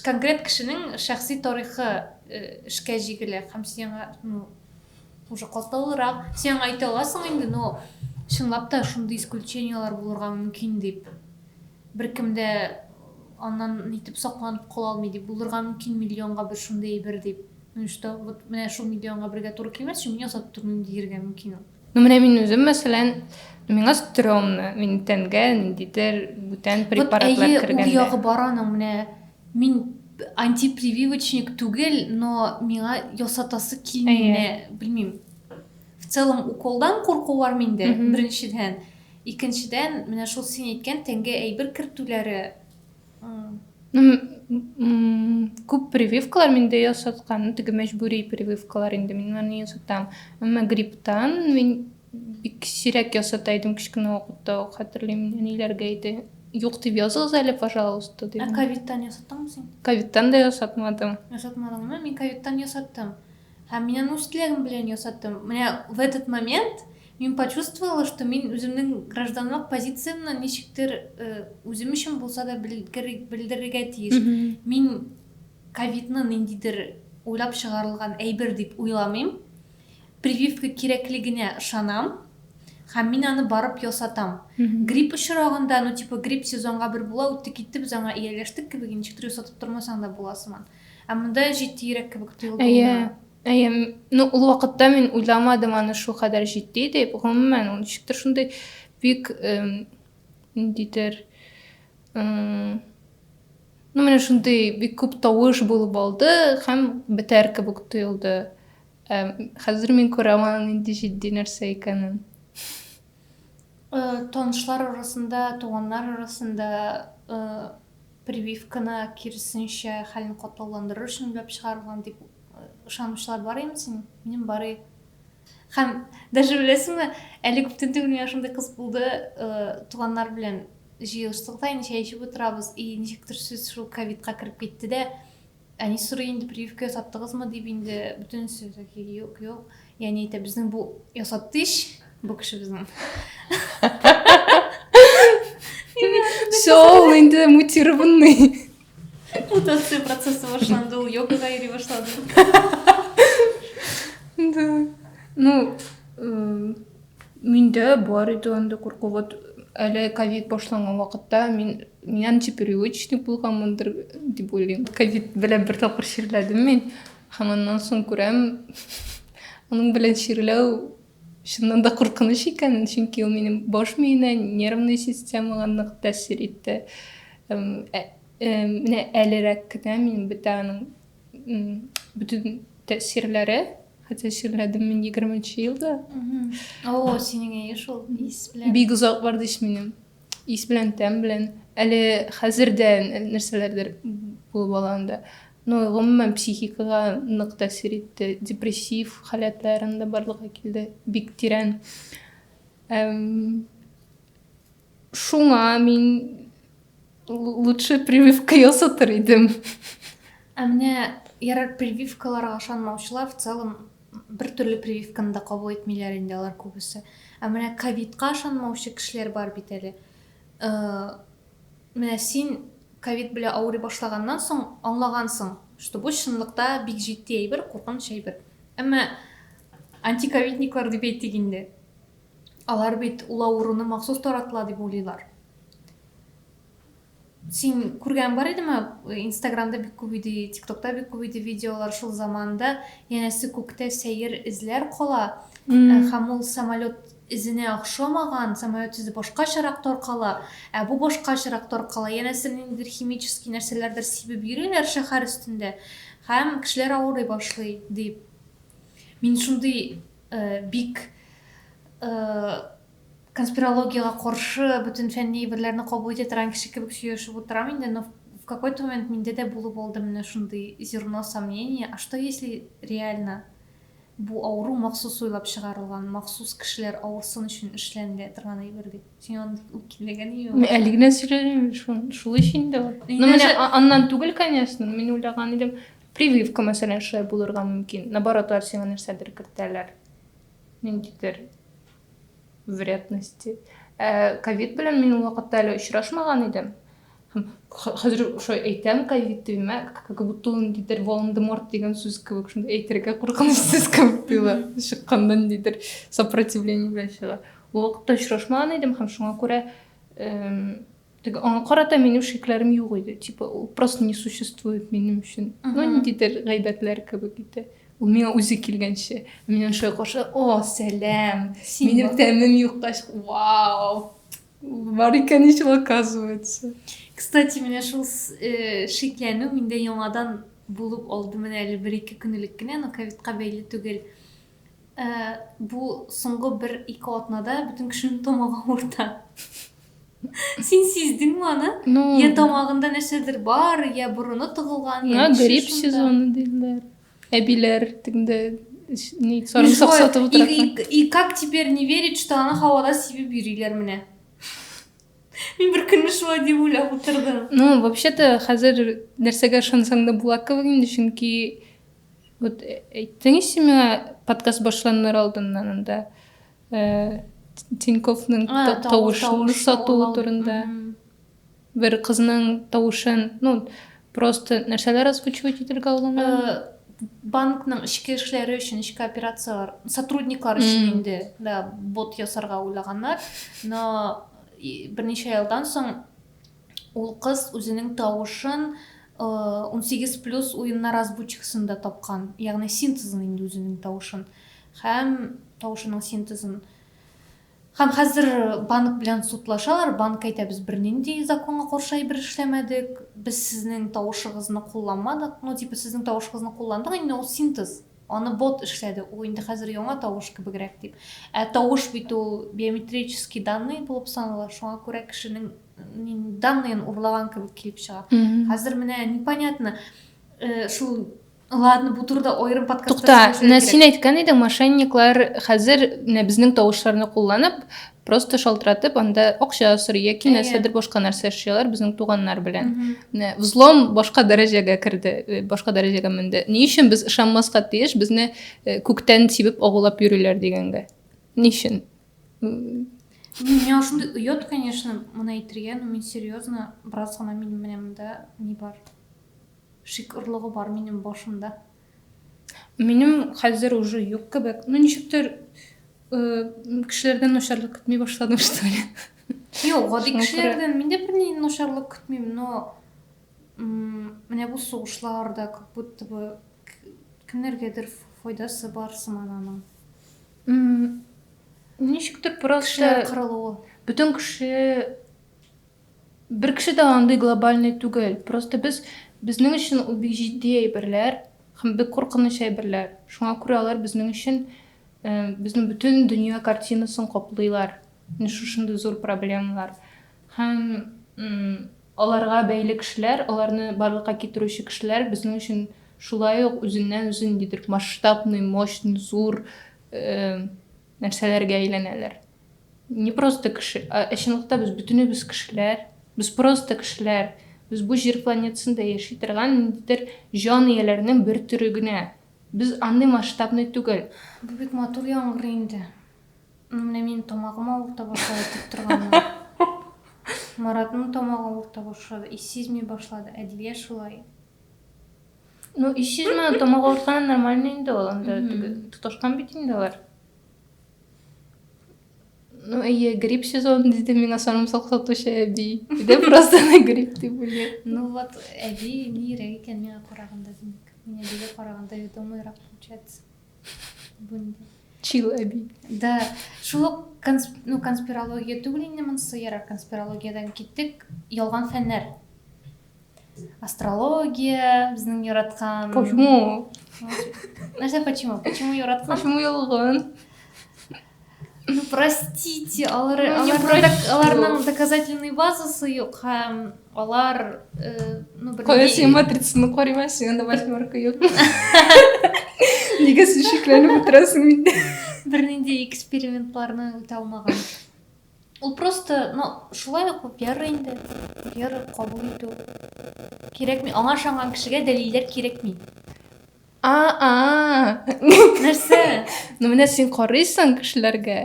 конкрет кешенең шәхси тарихы э, эшкә җигелә һәм сиңа ну, уже катлаулырак. Сиңа әйтә аласың инде, но чынлап та шундый исключенияләр булырга мөмкин дип. Беркем дә аннан нитеп сакланып кала алмый дип, булырга мөмкин миллионга бер шундый әйбер дип. Ну и что? Вот менә шул миллионга бергә туры килмәс өчен мин ясап тормыйм диергә мөмкин ул. Ну менә мин үзем мәсәлән, миңа стрёмно, мин тәнгә ниндидер бүтән препаратлар вот, кергәндә. Ул ягы бар аның менә мин антипрививочник түгел, но миңа ясатасы килми менә, белмим. В целом уколдан курку бар миндә, беренчедән. Икенчедән, менә шул син әйткән тәнгә әйбер кертүләре күп прививкалар миндә ясаткан теге мәҗбүри прививкалар инде мин аны ясатам әмма грипптан мин бик сирәк ясата идем кечкенә вакытта ук хәтерлим әниләргә әйтә юк дип языгыз әле пожалуйста дип ә ковидтан ясаттыңмы син ковидтан да ясатмадым ясатмадыңмы мин ковидтан ясаттым Һәм мин аны үз теләгем белән ясаттым. Менә в этот момент мин почувствовала, что мин үземнең гражданлык позициямне ничектер э, үзем өчен булса да белдерергә тиеш. Мин ковидны ниндидер уйлап чыгарылган әйбер дип уйламыйм. Прививка кирәклегенә ышанам һәм мин аны барып ясатам грипп очрагында ну типа грипп сезонга бер була үтте китте без аңа ияләштек кебек ничектер ясатып тормасаң да була сыман Ә монда җитди йөрәк кебек тоелды. Әйе. Әйе. Ну, ул вакытта мин уйламадым аны шул кадәр җитди дип. Гомумән, ул ничектер шундый бик ниндидер ну менә шундый бик күп тавыш булып алды һәм бетәр кебек тоелды хәзер мин күрәм аның нинди җитди нәрсә икәнен э, танышлар арасында туганнар арасында э, Прививканы, киресенчә, хәлне катлауландырыр өчен уйлап чыгарылган дип ышанучылар бар ими син? Минем бар и. Һәм даже беләсеңме, әле күптән түгел миңа шундый кыз булды, туганнар белән җыелыштык та, инде чәй эчеп утырабыз, и ничектер сүз шул ковидка кереп китте дә, Әни сорый инде, прививка ясаттыгызмы дип инде, бөтенесе таки юк, юк. И әни әйтә, безнең бу ясатты ич, бу кеше безнең. Все, ул инде мутированный. Мутация процессы башланды, ул йогага йөри башлады. Да. Ну, Миндә бар иде андый курку. Вот әле ковид башланган вакытта мин мин антипривычник булганмындыр дип уйлыйм. Ковид белән бер тапкыр чирләдем мин. Һәм аннан соң күрәм, аның белән чирләү чыннан да куркыныч икән, чөнки ул минем баш миенә, нервный системага нык тәэсир итте. Менә әлерәк кенә мин бетә аның Бүтін тәсирләре, хәтта сирләдім мен 20 нче елда. О, синең әйе шул, ис белән. Бик озак бар дис минем. Ис белән, тәм белән. Әле хәзердән нәрсәләрдер булып ала анда. Ну, гомумән психикага нык тәсир итте. Депрессив халәтләрендә барлыгы килде. Бик тирән. Эм, Шуңа мин лучше прививка ясатыр идем. Ә менә ярар прививкаларга ышанмаучылар в целом бер төрле прививканы да кабул итмиләр инде алар күбесе. Ә менә ковидка ышанмаучы кешеләр бар бит әле. Э, менә син ковид белән авырый башлаганнан соң аңлагансың, что бу чынлыкта бик җитди әйбер, куркыныч әйбер. Әмма антиковидниклар дип әйтик инде. Алар бит ул авыруны махсус таратыла дип уйлыйлар. Син күргән бар идеме? Инстаграмда бик күп иде, ТикТокта бик күп иде видеолар шул заманда. Янәсе күктә сәер эзләр кала, э, һәм ул самолет эзенә охшамаган, самолет эзе башкачарак таркала, ә бу башкачарак таркала. Янәсе ниндидер химический нәрсәләрдер сибеп йөриләр шәһәр өстендә һәм кешеләр авырый башлый, дип. Мин шундый Бик конспирологиягә каршы бөтен фәнни әйберләрне кабул итә торган кеше кебек сөйләшеп утырам инде, но в какой-то момент миндә дә булып алды менә шундый зерно сомнения, а что если реально бу авыру махсус уйлап чыгарылган, махсус кешеләр авырсын өчен эшләнелә торган әйбер дип. Син аны үткинләгәнме юкмы? Мин әле генә сөйләдем, шул өчен дә. Ну, менә аннан түгел, конечно, мин уйлаган идем, Прививка, мәсәлән, шулай булырга мөмкин. Наоборот, алар сиңа нәрсәдер кертәләр. Ниндидер вредности. Э, ковид белән мин ул вакытта әле очрашмаган идем. Хәзер шулай әйтәм, ковид димә, как будто ул ниндидер Волан-де-Морт дигән сүз кебек, шундай әйтергә куркыныч сүз кебек тоела. Чыкканда ниндидер сопротивление белән чыга. Ул вакытта очрашмаган идем һәм шуңа күрә Теге аңа карата минем шикләрем юк иде. Типа, ул просто не существует минем өчен. Ну, ниндидер гайбәтләр кебек иде. Ул миңа үзе килгәнче. Мин аны шулай каршы, о, сәлам. Минем тәмем юкка чык. Вау. Бар икән ич ул оказывается. Кстати, менә шул э, шикләнү миндә яңадан булып алды менә әле бер-ике көнлек кенә, но ковидка бәйле түгел. Ә бу соңгы бер-ике атнада бөтен кешенең тамагы авырта. Син сиздеңме аны? Ну... Я тамагында нәрсәдер бар, я борыны тыгылган, я нәрсә Грипп сезоны диләр. Әбиләр теңдә ни сарымсак сатып утыра. И как теперь не верить, что аны һавада сибеп йөриләр менә? Мин бер көнне шулай дип уйлап утырдым. Ну, вообще-то хәзер нәрсәгә ышансаң да була кебек инде, чөнки Вот э, әйттең ич миңа подкаст башланыр алдыннан анда э, Тиньковның тавышын сату турында. Бер кызның тавышын, ну, просто нәрсәләр озвучивать итергә алынган? Э, банкның ішкі эшләре өчен ішкі операциялар сотрудниклар өчен инде да бот ясарга уйлаганнар но берничә елдан соң Ул кыз үзенең тавышын унсигез плюс уеннар азбучкасында тапкан, ягъни синтезын инде үзенең тавышын һәм тавышының синтезын. Һәм хәзер банк белән судлашалар, банк әйтә, без бернинди законга каршы әйбер эшләмәдек, без сезнең тавышыгызны кулланмадык, ну типа сезнең тавышыгызны кулландык, инде ул синтез, аны бот эшләде, ул инде хәзер яңа тавыш кебегрәк дип. Ә тавыш бит ул биометрический данные булып санала, шуңа күрә кешенең данныйын урлаган кебек килеп чыга хәзер менә непонятно э, шул ладно бу турыда аерым подкаст тукта менә син әйткән идең мошенниклар хәзер менә безнең тавышларны кулланып просто шалтыратып анда акча сорый яки нәрсәдер башка нәрсә эшләр безнең туганнар белән менә взлом башка дәрәҗәгә керде э, башка дәрәҗәгә менде ни өчен без ышанмаска тиеш безне э, күктән тибеп агулап йөриләр дигәнгә ни өчен Миңа шундый оят, конечно, моны әйтергә, но мин серьезно, бераз гына минем менә монда ни бар? Шик орлыгы бар минем башымда. Минем хәзер уже юк кебек. Ну ничектер кешеләрдән начарлык көтми башладым, что ли. Юк, гади кешеләрдән мин дә берни начарлык көтмим, но менә бу сугышларда как будто бы кемнәргәдер файдасы бар сыман аның. Ничектер просто бөтен кеше бер кеше дә андый глобальный түгел. Просто без безнең өчен ул бик җитди әйберләр һәм бик куркыныч әйберләр. Шуңа күрә алар безнең өчен безнең бөтен дөнья картинасын каплыйлар. Менә шушындый зур проблемалар. Һәм аларга бәйле кешеләр, аларны барлыкка китерүче кешеләр безнең өчен шулай ук үзеннән-үзе ниндидер масштабный, мощный, зур нәрсәләргә әйләнәләр. Не просто кеше, ә чынлыкта без бөтенебез кешеләр, без просто кешеләр, без бу җир планетасында яши торган ниндидер җан ияләренең бер төре генә. Без андый масштабный түгел. Бу бик матур яңгырый инде. Менә минем тамагым авырта башлады дип торганнар. Маратның тамагы авырта башлады, ис сизми башлады. Әдилгә шулай. Ну, ис сизмәде, тамагы авыртканы нормально инде ул, анда теге тоташкан бит инде алар. Ну, әйе, грипп сезон диде миңа сарымсак сатучы әби. Дә просто ана грипп дип белгән. Ну вот, әби нирәк икән миңа караганда, димәк. Мин әбигә караганда ведомыйрак получается. Чил әби. Да, шул ук ну, конспирология түгел инде монысы ерак конспирологиядән киттек. Ялган фәннәр. Астрология, безнең яраткан. Почему? Нәрсә почему? Почему яраткан? Почему ялган? Ну, простите, алар, ну, алар, док, аларның доказательный базасы юк һәм алар... Э, ну, бер... Кое син матрицаны карыйма, син анда восьмерка юк. Нигә син шикләнеп утырасың инде? Бернинди экспериментларны үтә алмаган. Ул просто, ну, шулай ук вера инде. Вера кабул итү. Кирәкми. Аңа ышанган кешегә дәлилләр кирәкми. нәрсә ну менә син карыйсың кешеләргә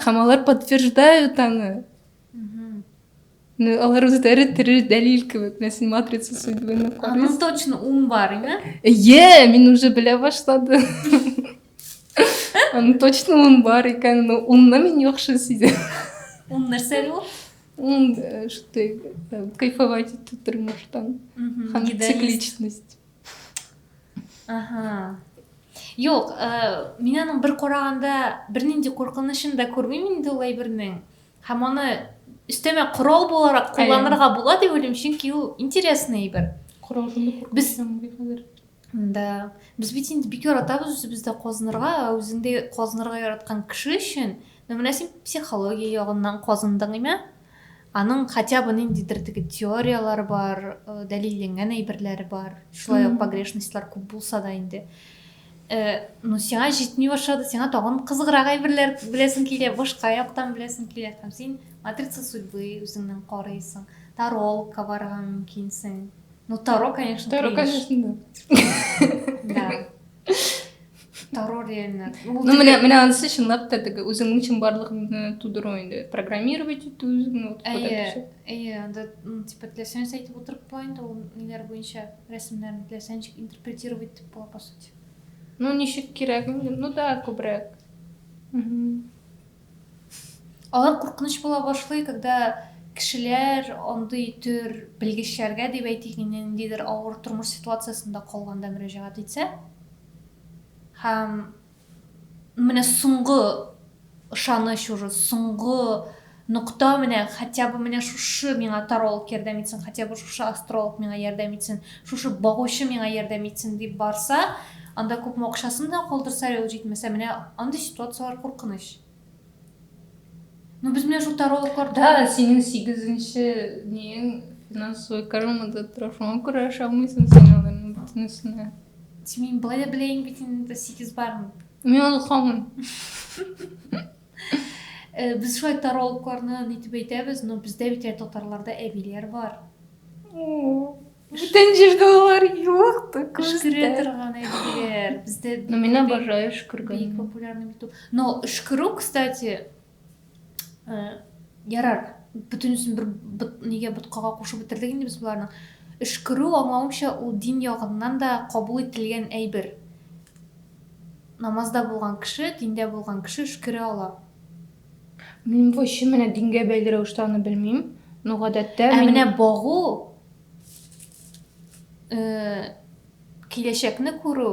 һәм алар подтверждают аны ну алар үзләре тере дәлил кебек менә син матрица сүзлегенә карыйсың ну точно ун бар име иә мин уже белә башладым аны точно ун бар икән но унны мин яхшы сизәм ун нәрсә әле ул ун что кайфовать итү тормыштан һәм цикличность Aha. Юк, э, мин аның бер караганда бернинди куркынычын да күрмим инде ул әйбернең. Һәм аны өстәмә корал буларак кулланырга була дип уйлыйм, чөнки ул интересный әйбер. Корал Без Да. Без бит инде бик яратабыз үзебездә казынырга, ә үзеңдә казынырга яраткан кеше өчен, ну менә син психология ягыннан казындың име? Аның хотя бы ниндидер теге теорияләр бар, дәлилленгән әйберләре бар. Шулай ук погрешностьлар күп булса да инде. Э, ну сиңа җитми башлады сиңа тагын кызыграк әйберләр беләсең килә башка яктан беләсең килә һәм син матрица судьбы үзеңнән карыйсың таролка барырга мөмкинсең ну таро конечно таро конечно да Дарур реально. Ну, менә менә анысы чынлап та теге үзеңнең чынбарлыгыңны тудыру инде. Программировать итү үзеңне вот Әйе, әйе, анда типа теләсәң әйтеп утырып була инде ул ниләр буенча рәсемнәрне теләсәң ничек интерпретировать итеп була по сути. Ну, ничек кирәк? Ну да, күбрәк. Алар куркыныч була башлый, когда кешеләр андый төр белгечләргә, дип әйтик инде, ниндидер авыр тормыш ситуациясендә калганда мөрәҗәгать итсә. Һәм менә соңгы ышаныч уже, соңгы нокта менә, хотя бы менә шушы миңа таролог ярдәм итсен, хотя бы шушы астролог миңа ярдәм итсен, Шушы багучы миңа ярдәм итсен дип барса, анда күпме акчасын да калдырса, әле ул җитмәсә, менә андый ситуацияләр куркыныч. Ну без менә шул тарологларда... Да, синең сигезенче нең финансовый кармада тора, шуңа күрә ашамыйсың син аларның бөтенесенә. Син мин былай да беләйең бит инде сигез барын. Мин аны хамыйм. Э, без шулай таралыкларны нитеп әйтәбез, но бездә бит ә татарларда әбиләр бар. Бүтән җирдә алар юк та Өшкерә торган әбиләр. Бездә Но мин обожаю өшкергән. Бик популярный бит ул. Но өшкерү, кстати, э, ярар, бөтенесен бер нигә боткага кушып бетердек инде без боларны. Өшкерү, аңлавымча, ул дин ягыннан да кабул ителгән әйбер. Намазда булган кеше, диндә булган кеше өшкерә ала. Мин бу чын менә дингә бәйле рәвештә аны белмим, но гадәттә мин... Ә менә багу, киләчәкне күрү,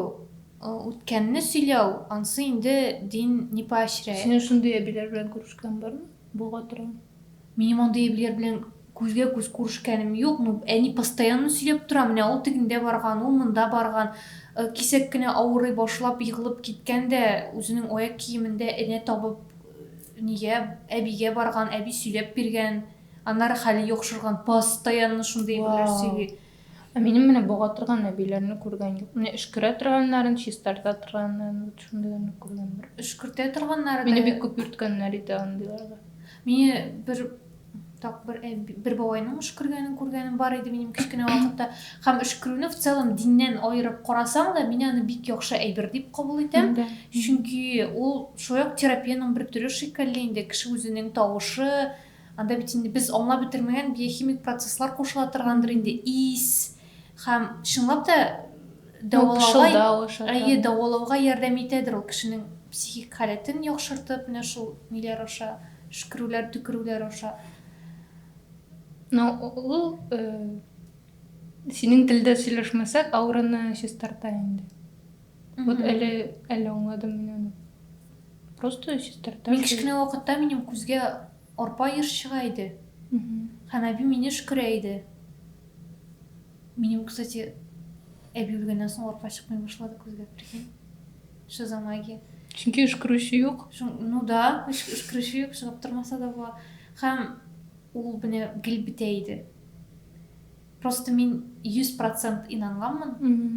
үткәнне сөйләү, ансы инде дин не поощряет. Синең шундый әбиләр белән күрешкән бармы? Бога тора. Минем андый әбиләр белән күзгә-күз күрешкәнем юк, ну, әни постоянно сөйләп тора, менә ул тегендә барган, ул монда барган, кисәк кенә авырый башлап, егылып киткән дә, үзенең аяк киемен дә энә табып, нигә, әбигә барган, әби сөйләп биргән, аннары хәле яхшырган, постоянно шундый әйберләр сөйли. Вау! Ә минем менә бога торган әбиләрне күргән юк. Менә өшкерә торганнарын, чистарта торганнарын, вот шундыйларны күргән бер. Өшкертә торганнары Мине бик күп йөрткәннәр иде андыйларга. Мине бер так бер әби, бер бабайның өшкергәнен күргәнем бар иде минем кечкенә вакытта. Һәм өшкерүне в целом диннән аерып карасаң да, мин аны бик яхшы әйбер дип кабул итәм. Чөнки ул шулай ук терапиянең бер төре шикелле инде, кеше үзенең тавышы, Анда бит инде без аңлап бетермәгән биохимик процесслар кушыла торгандыр инде, ис һәм чынлап та дәвалауга, әйе, дәвалауга ярдәм итәдер ул кешенең психик халәтен яхшыртып, менә шул ниләр аша, шкерүләр, төкерүләр аша. Но ул э, синең телдә сөйләшмәсәк, аураны чистарта инде. Угу. Вот әле, әле аңладым мин аны. Просто чистарта. Мин кечкенә вакытта минем күзгә арпа еш чыга иде. Һәм әби мине шкөрә иде. Минем, кстати, әби үлгәннән соң арпа чыкмый башлады күзгә, прикинь. Шизомагия. Чөнки өшкерүче юк. Ну да, өшкерүче юк, чыгып тормаса да була. Һәм ул менә гел бетә иде. Просто мин 100 процент инанганмын,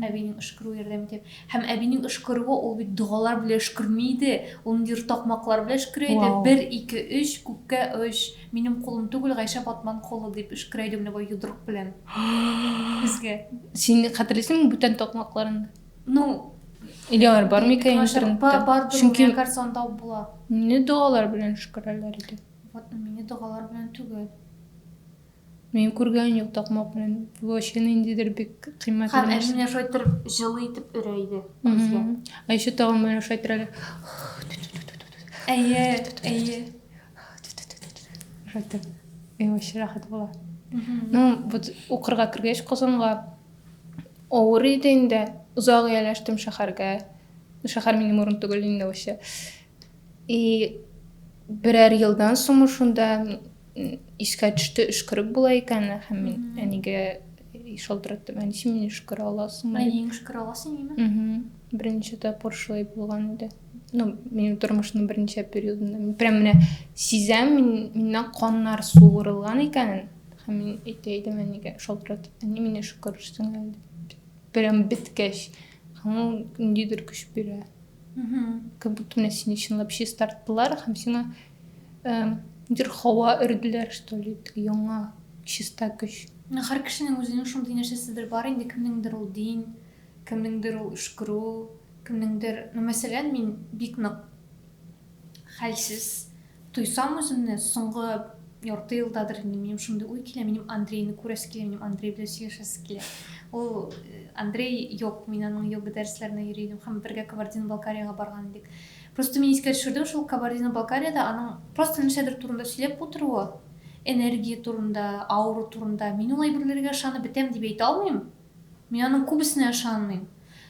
әбинең өшкерүе ярдәм итә. Һәм әбинең өшкерүе ул бит догалар белән өшкерми иде, ул ниндидер такмаклар белән өшкерә иде. Вау. Бер, ике, өч, күккә оч, минем кулым түгел, Гайшә Батман кулы, дип өшкерә иде менә бу йодрык белән безгә. Син хәтерлисеңме бүтән такмакларын? Ну, Или алар бар микән интернетта? Бардыр, Чөнки... миңа кажется, анда була. Мине догалар белән өшкерәләр иде. Вот, мине догалар белән түгел. Мин күргән юк такмак белән. Вообще ниндидер бик кыйммәтле. Һәм нәрсә. әнине шайтыр җылы итеп өрә иде күзгә. Ә еще тагын менә шайтыр әле. Әйе, әйе. Шайтыр. И вообще рәхәт була. Ну, вот укырга кергәч Казанга авыр иде инде. Озак ияләштем шәһәргә. Шәһәр минем урын түгел инде вообще. И берәр елдан соң шунда искә төште өшкереп була икән һәм мин әнигә шалтыраттым әнисе мине өшкерә аласыңмы әниең өшкерә аласың име берничә тапкыр шулай булган иде ну минем тормышның берничә периодында мин прям менә сизәм мин миннән каннар суырылган икәнен һәм мин әйтә идем әнигә шалтыратып әни мине өшкерерсең әле прям беткәч һәм ул ниндидер көч бирә как будто менә сине чынлап чистарттылар һәм сиңа бер һава өрделәр что ли яңа чиста көч һәр кешенең үзенең шундый нәрсәседер бар инде кемнеңдер ул дин кемнеңдер ул өшкерү кемнеңдер ну мәсәлән мин бик нык хәлсез Туйсам үземне, соңгы ярты елдадыр инде минем шундый уй килә, минем Андрейны күрәсе килә, минем Андрей белән сөйләшәсе килә. Ул э, Андрей юк, мин аның йога дәресләренә йөри идем һәм бергә Кабардино-Балкариягә барган идек. Просто мин искә төшердем шул Кабардино-Балкариядә аның просто нәрсәдер турында сөйләп утыруы, энергия турында, аура турында. Мин ул әйберләргә ышанып бетәм дип әйтә алмыйм. Мин аның күбесенә ышанмыйм,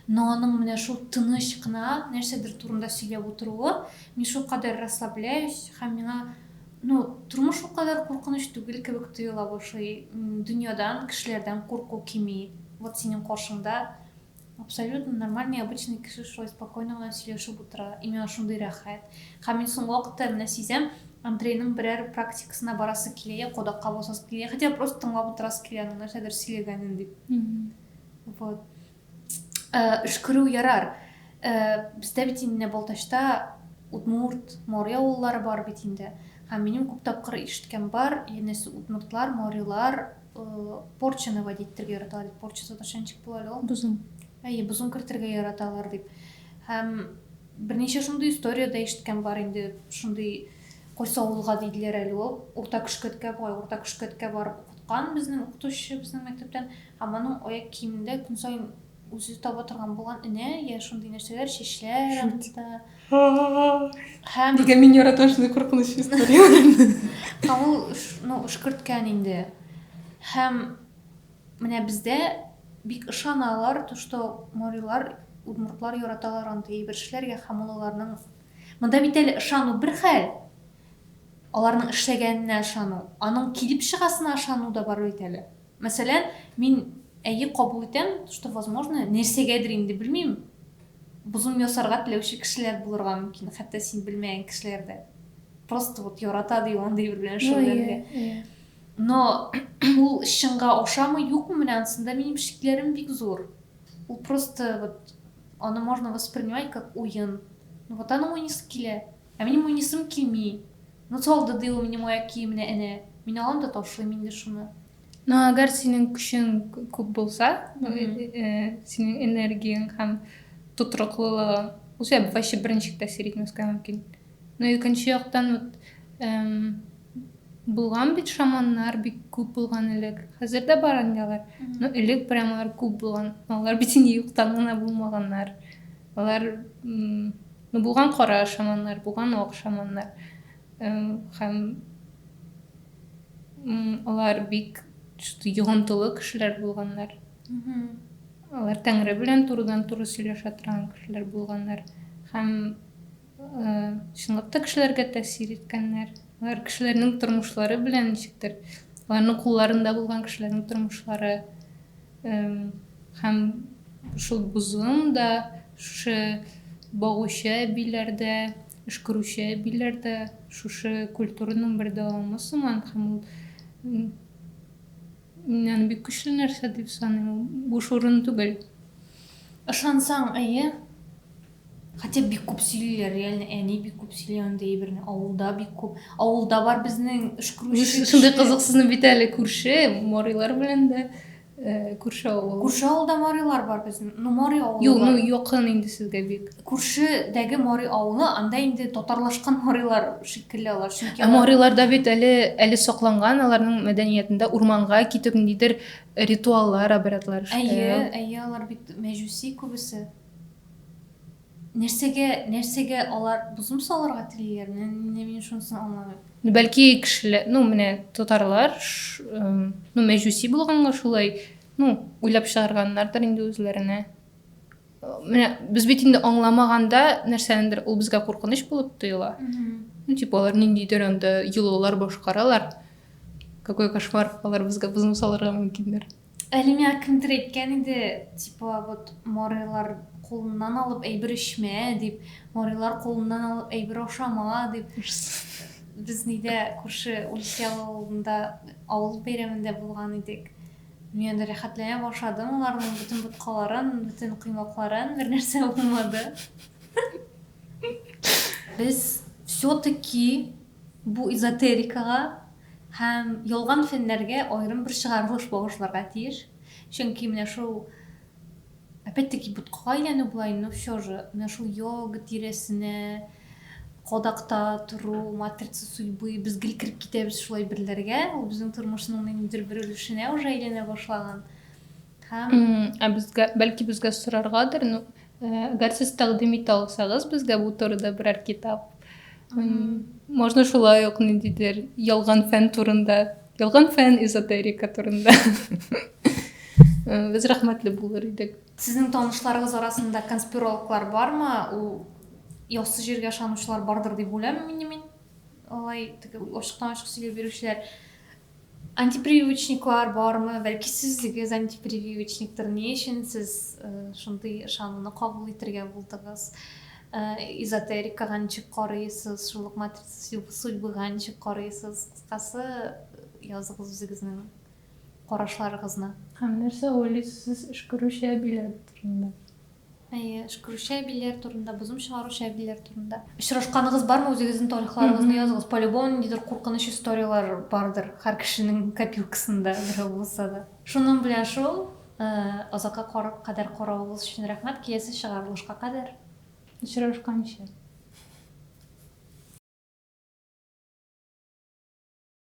но аның менә шул тыныч кына нәрсәдер турында сөйләп утыруы, мин шулкадәр расслабляюсь һәм миңа, ну, тормыш ул кадәр куркыныч түгел кебек тоела башлый, дөньядан, кешеләрдән курку кими, вот синең каршыңда абсолютно нормальный, обычный кеше шулай спокойно гына сөйләшеп утыра, и миңа шундый рәхәт, һәм мин соңгы вакытта менә сизәм, Андрейның берәр практикасына барасы килә, йә кодакка басасы килә, йә хотя бы просто тыңлап утырасы килә аның нәрсәдер сөйләгәнен дип. Вот. Өшкерү ярар. Бездә бит инде Балтачта удмурт, моря авыллары бар бит инде. Һәм минем күп тапкыр ишеткән бар, янәсе удмуртлар, морилар порчаны водить итәргә яраталар. Порча татарча ничек була әле ул? Бозым. Әйе, бозым кертергә яраталар дип. Һәм Берничә шундый история дә ишеткән бар инде, шундый кайсы авылга диделәр әле ул, Урта Көшкәткә, бугай Урта Көшкәткә барып укыткан безнең укытучы безнең мәктәптән, һәм аның аяк киемендә көн саен үзе таба торган булган энә, я шундый нәрсәләр, чәчләр анда. Һәм Нигә мин яратам шундый куркыныч историяләрне? Һәм ул, ну, өшкерткән инде. Һәм Менә бездә бик ышаналар, то что морилар, удмуртлар яраталар андый әйбер эшләргә һәм ул аларның Монда бит әле ышану бер хәл, аларның эшләгәненә ышану, аның килеп чыгасына ышану да бар бит әле. Мәсәлән, мин әйе кабул итәм, то что возможно, нәрсәгәдер инде белмим, бозым ясарга теләүче кешеләр булырга мөмкин, хәтта син белмәгән кешеләр дә. Просто вот ярата ди ул андый бер белән шөгыльләнергә. Но ул чынга ошамы юкмы менә анысында минем шикләрем бик зур. Ул просто вот аны можно воспринимать как уен. Ну вот аның уйныйсы килә. Ә минем уйныйсым килми. Ну салды ди ул минем аяк киеменә әнә. Мин алам да ташлыйм инде шуны. Но әгәр синең көчең күп булса, синең энергияң һәм тотрыклылыгың, ул сиңа вообще берничек тәэсир итмәскә мөмкин. Ну икенче яктан вот эм, булган бит шаманнар бик күп булган элек. Хәзер дә бар инде алар. Но элек прям алар күп булган. Алар бит инде юктан гына булмаганнар. Алар м, ну булган кара шаманнар, булган ак шаманнар. Эм, Һәм м, алар бик что-то йогынтылы кешеләр булганнар. Алар Тәңре белән турыдан-туры сөйләшә торган кешеләр булганнар. Һәм Чынлап та кешеләргә тәэсир иткәннәр. Алар кешеләрнең тормышлары белән ничектер, аларның кулларында булган кешеләрнең тормышлары һәм шул бозым да, шушы багучы әбиләр дә, өшкерүче әбиләр дә шушы культураның бер дәвамы сыман һәм ул мин аны бик көчле нәрсә дип саныйм, буш урын түгел. Ышансаң, әйе. Хотя бик күп сөйлиләр, реально әни бик күп сөйли андый әйберне, авылда бик күп. Авылда бар безнең өшкерүче. Шундый кызыксызны бит әле күрше, Морилар белән дә күрше авыл. Күрше авылда Морилар бар безнең. Ну, Мори авылы. Юк, ну якын инде сезгә бик. Күршедәге Мори авылы, анда инде татарлашкан Морилар шикелле алар. Чөнки ә Мориларда бит әле әле сакланган аларның мәдәниятендә урманга китү ниндидер ритуаллар, обрядлар. Әйе, әйе, алар бит мәҗүси күбесе. Нәрсәгә, нәрсәгә алар бозым салырга телиләр? Менә мин шунысын аңламыйм. Ну, бәлки кешеләр, ну, менә татарлар, ну, мәҗүси булганга шулай, ну, уйлап чыгарганнардыр инде үзләренә. Менә без бит инде аңламаганда нәрсәнедер ул безгә куркыныч булып тоела. Ну, типа алар ниндидер анда йолалар башкаралар. Какой кошмар, алар безгә бозым салырга мөмкиндер. Әле миңа кемдер әйткән иде, типа, вот марыйлар кулыннан алып әйбер эчмә, дип, марыйлар кулыннан алып әйбер ашама, дип. Без нидә күрше Ульсел авылында авыл бәйрәмендә булган идек. Мин анда рәхәтләнә башладым, аларның бөтен боткаларын, бөтен коймакларын, бер нәрсә булмады. Без все-таки бу эзотерикага Һәм ялган фәннәргә аерым бер чыгарылыш багышларга тиеш, чөнки менә шул, опять-таки, боткага әйләнү болай, но все же, менә шул йога тирәсенә кадакта тору, матрица судьбы, без гел кереп китәбез шул әйберләргә, ул безнең тормышның ниндидер бер өлешенә уже әйләнә башлаган. Ә безгә, бәлки безгә сораргадыр, ну, әгәр сез тәкъдим итә алсагыз безгә бу турыда берәр китап. Можно шулай ук ниндидер ялган фән турында, ялган фән эзотерика турында. Без рәхмәтле булыр идек. Сезнең танышларыгыз арасында конспирологлар бармы? Ул яссы җиргә ышанучылар бардыр дип уйлаймын мин. Алай ачыктан ачык сөйләп бирүчеләр Антипрививочниклар бармы? Бәлки сез үгез антипрививочниктыр? Ни өчен сез шундый ышануны кабул итергә булдыгыз? Эзотерикага ничек карыйсыз? Шул ук матрица судьбыга ничек карыйсыз? Кыскасы, языгыз үзегезнең карашларыгызны. Һәм нәрсә уйлыйсыз сез эшкөрүче әбиләр турында? Әйе, Шкру Шәбиләр турында, бозым чыгару Шәбиләр турында. Очрашканыгыз бармы, үзегезнең тарихларыгызны языгыз. Полюбому ниндидер куркыныч историяләр бардыр, һәр кешенең копилкасында берәү булса да. Шуның белән шул, озакка кадәр каравыгыз өчен рәхмәт, киләсе чыгарылышка кадәр очрашканчы.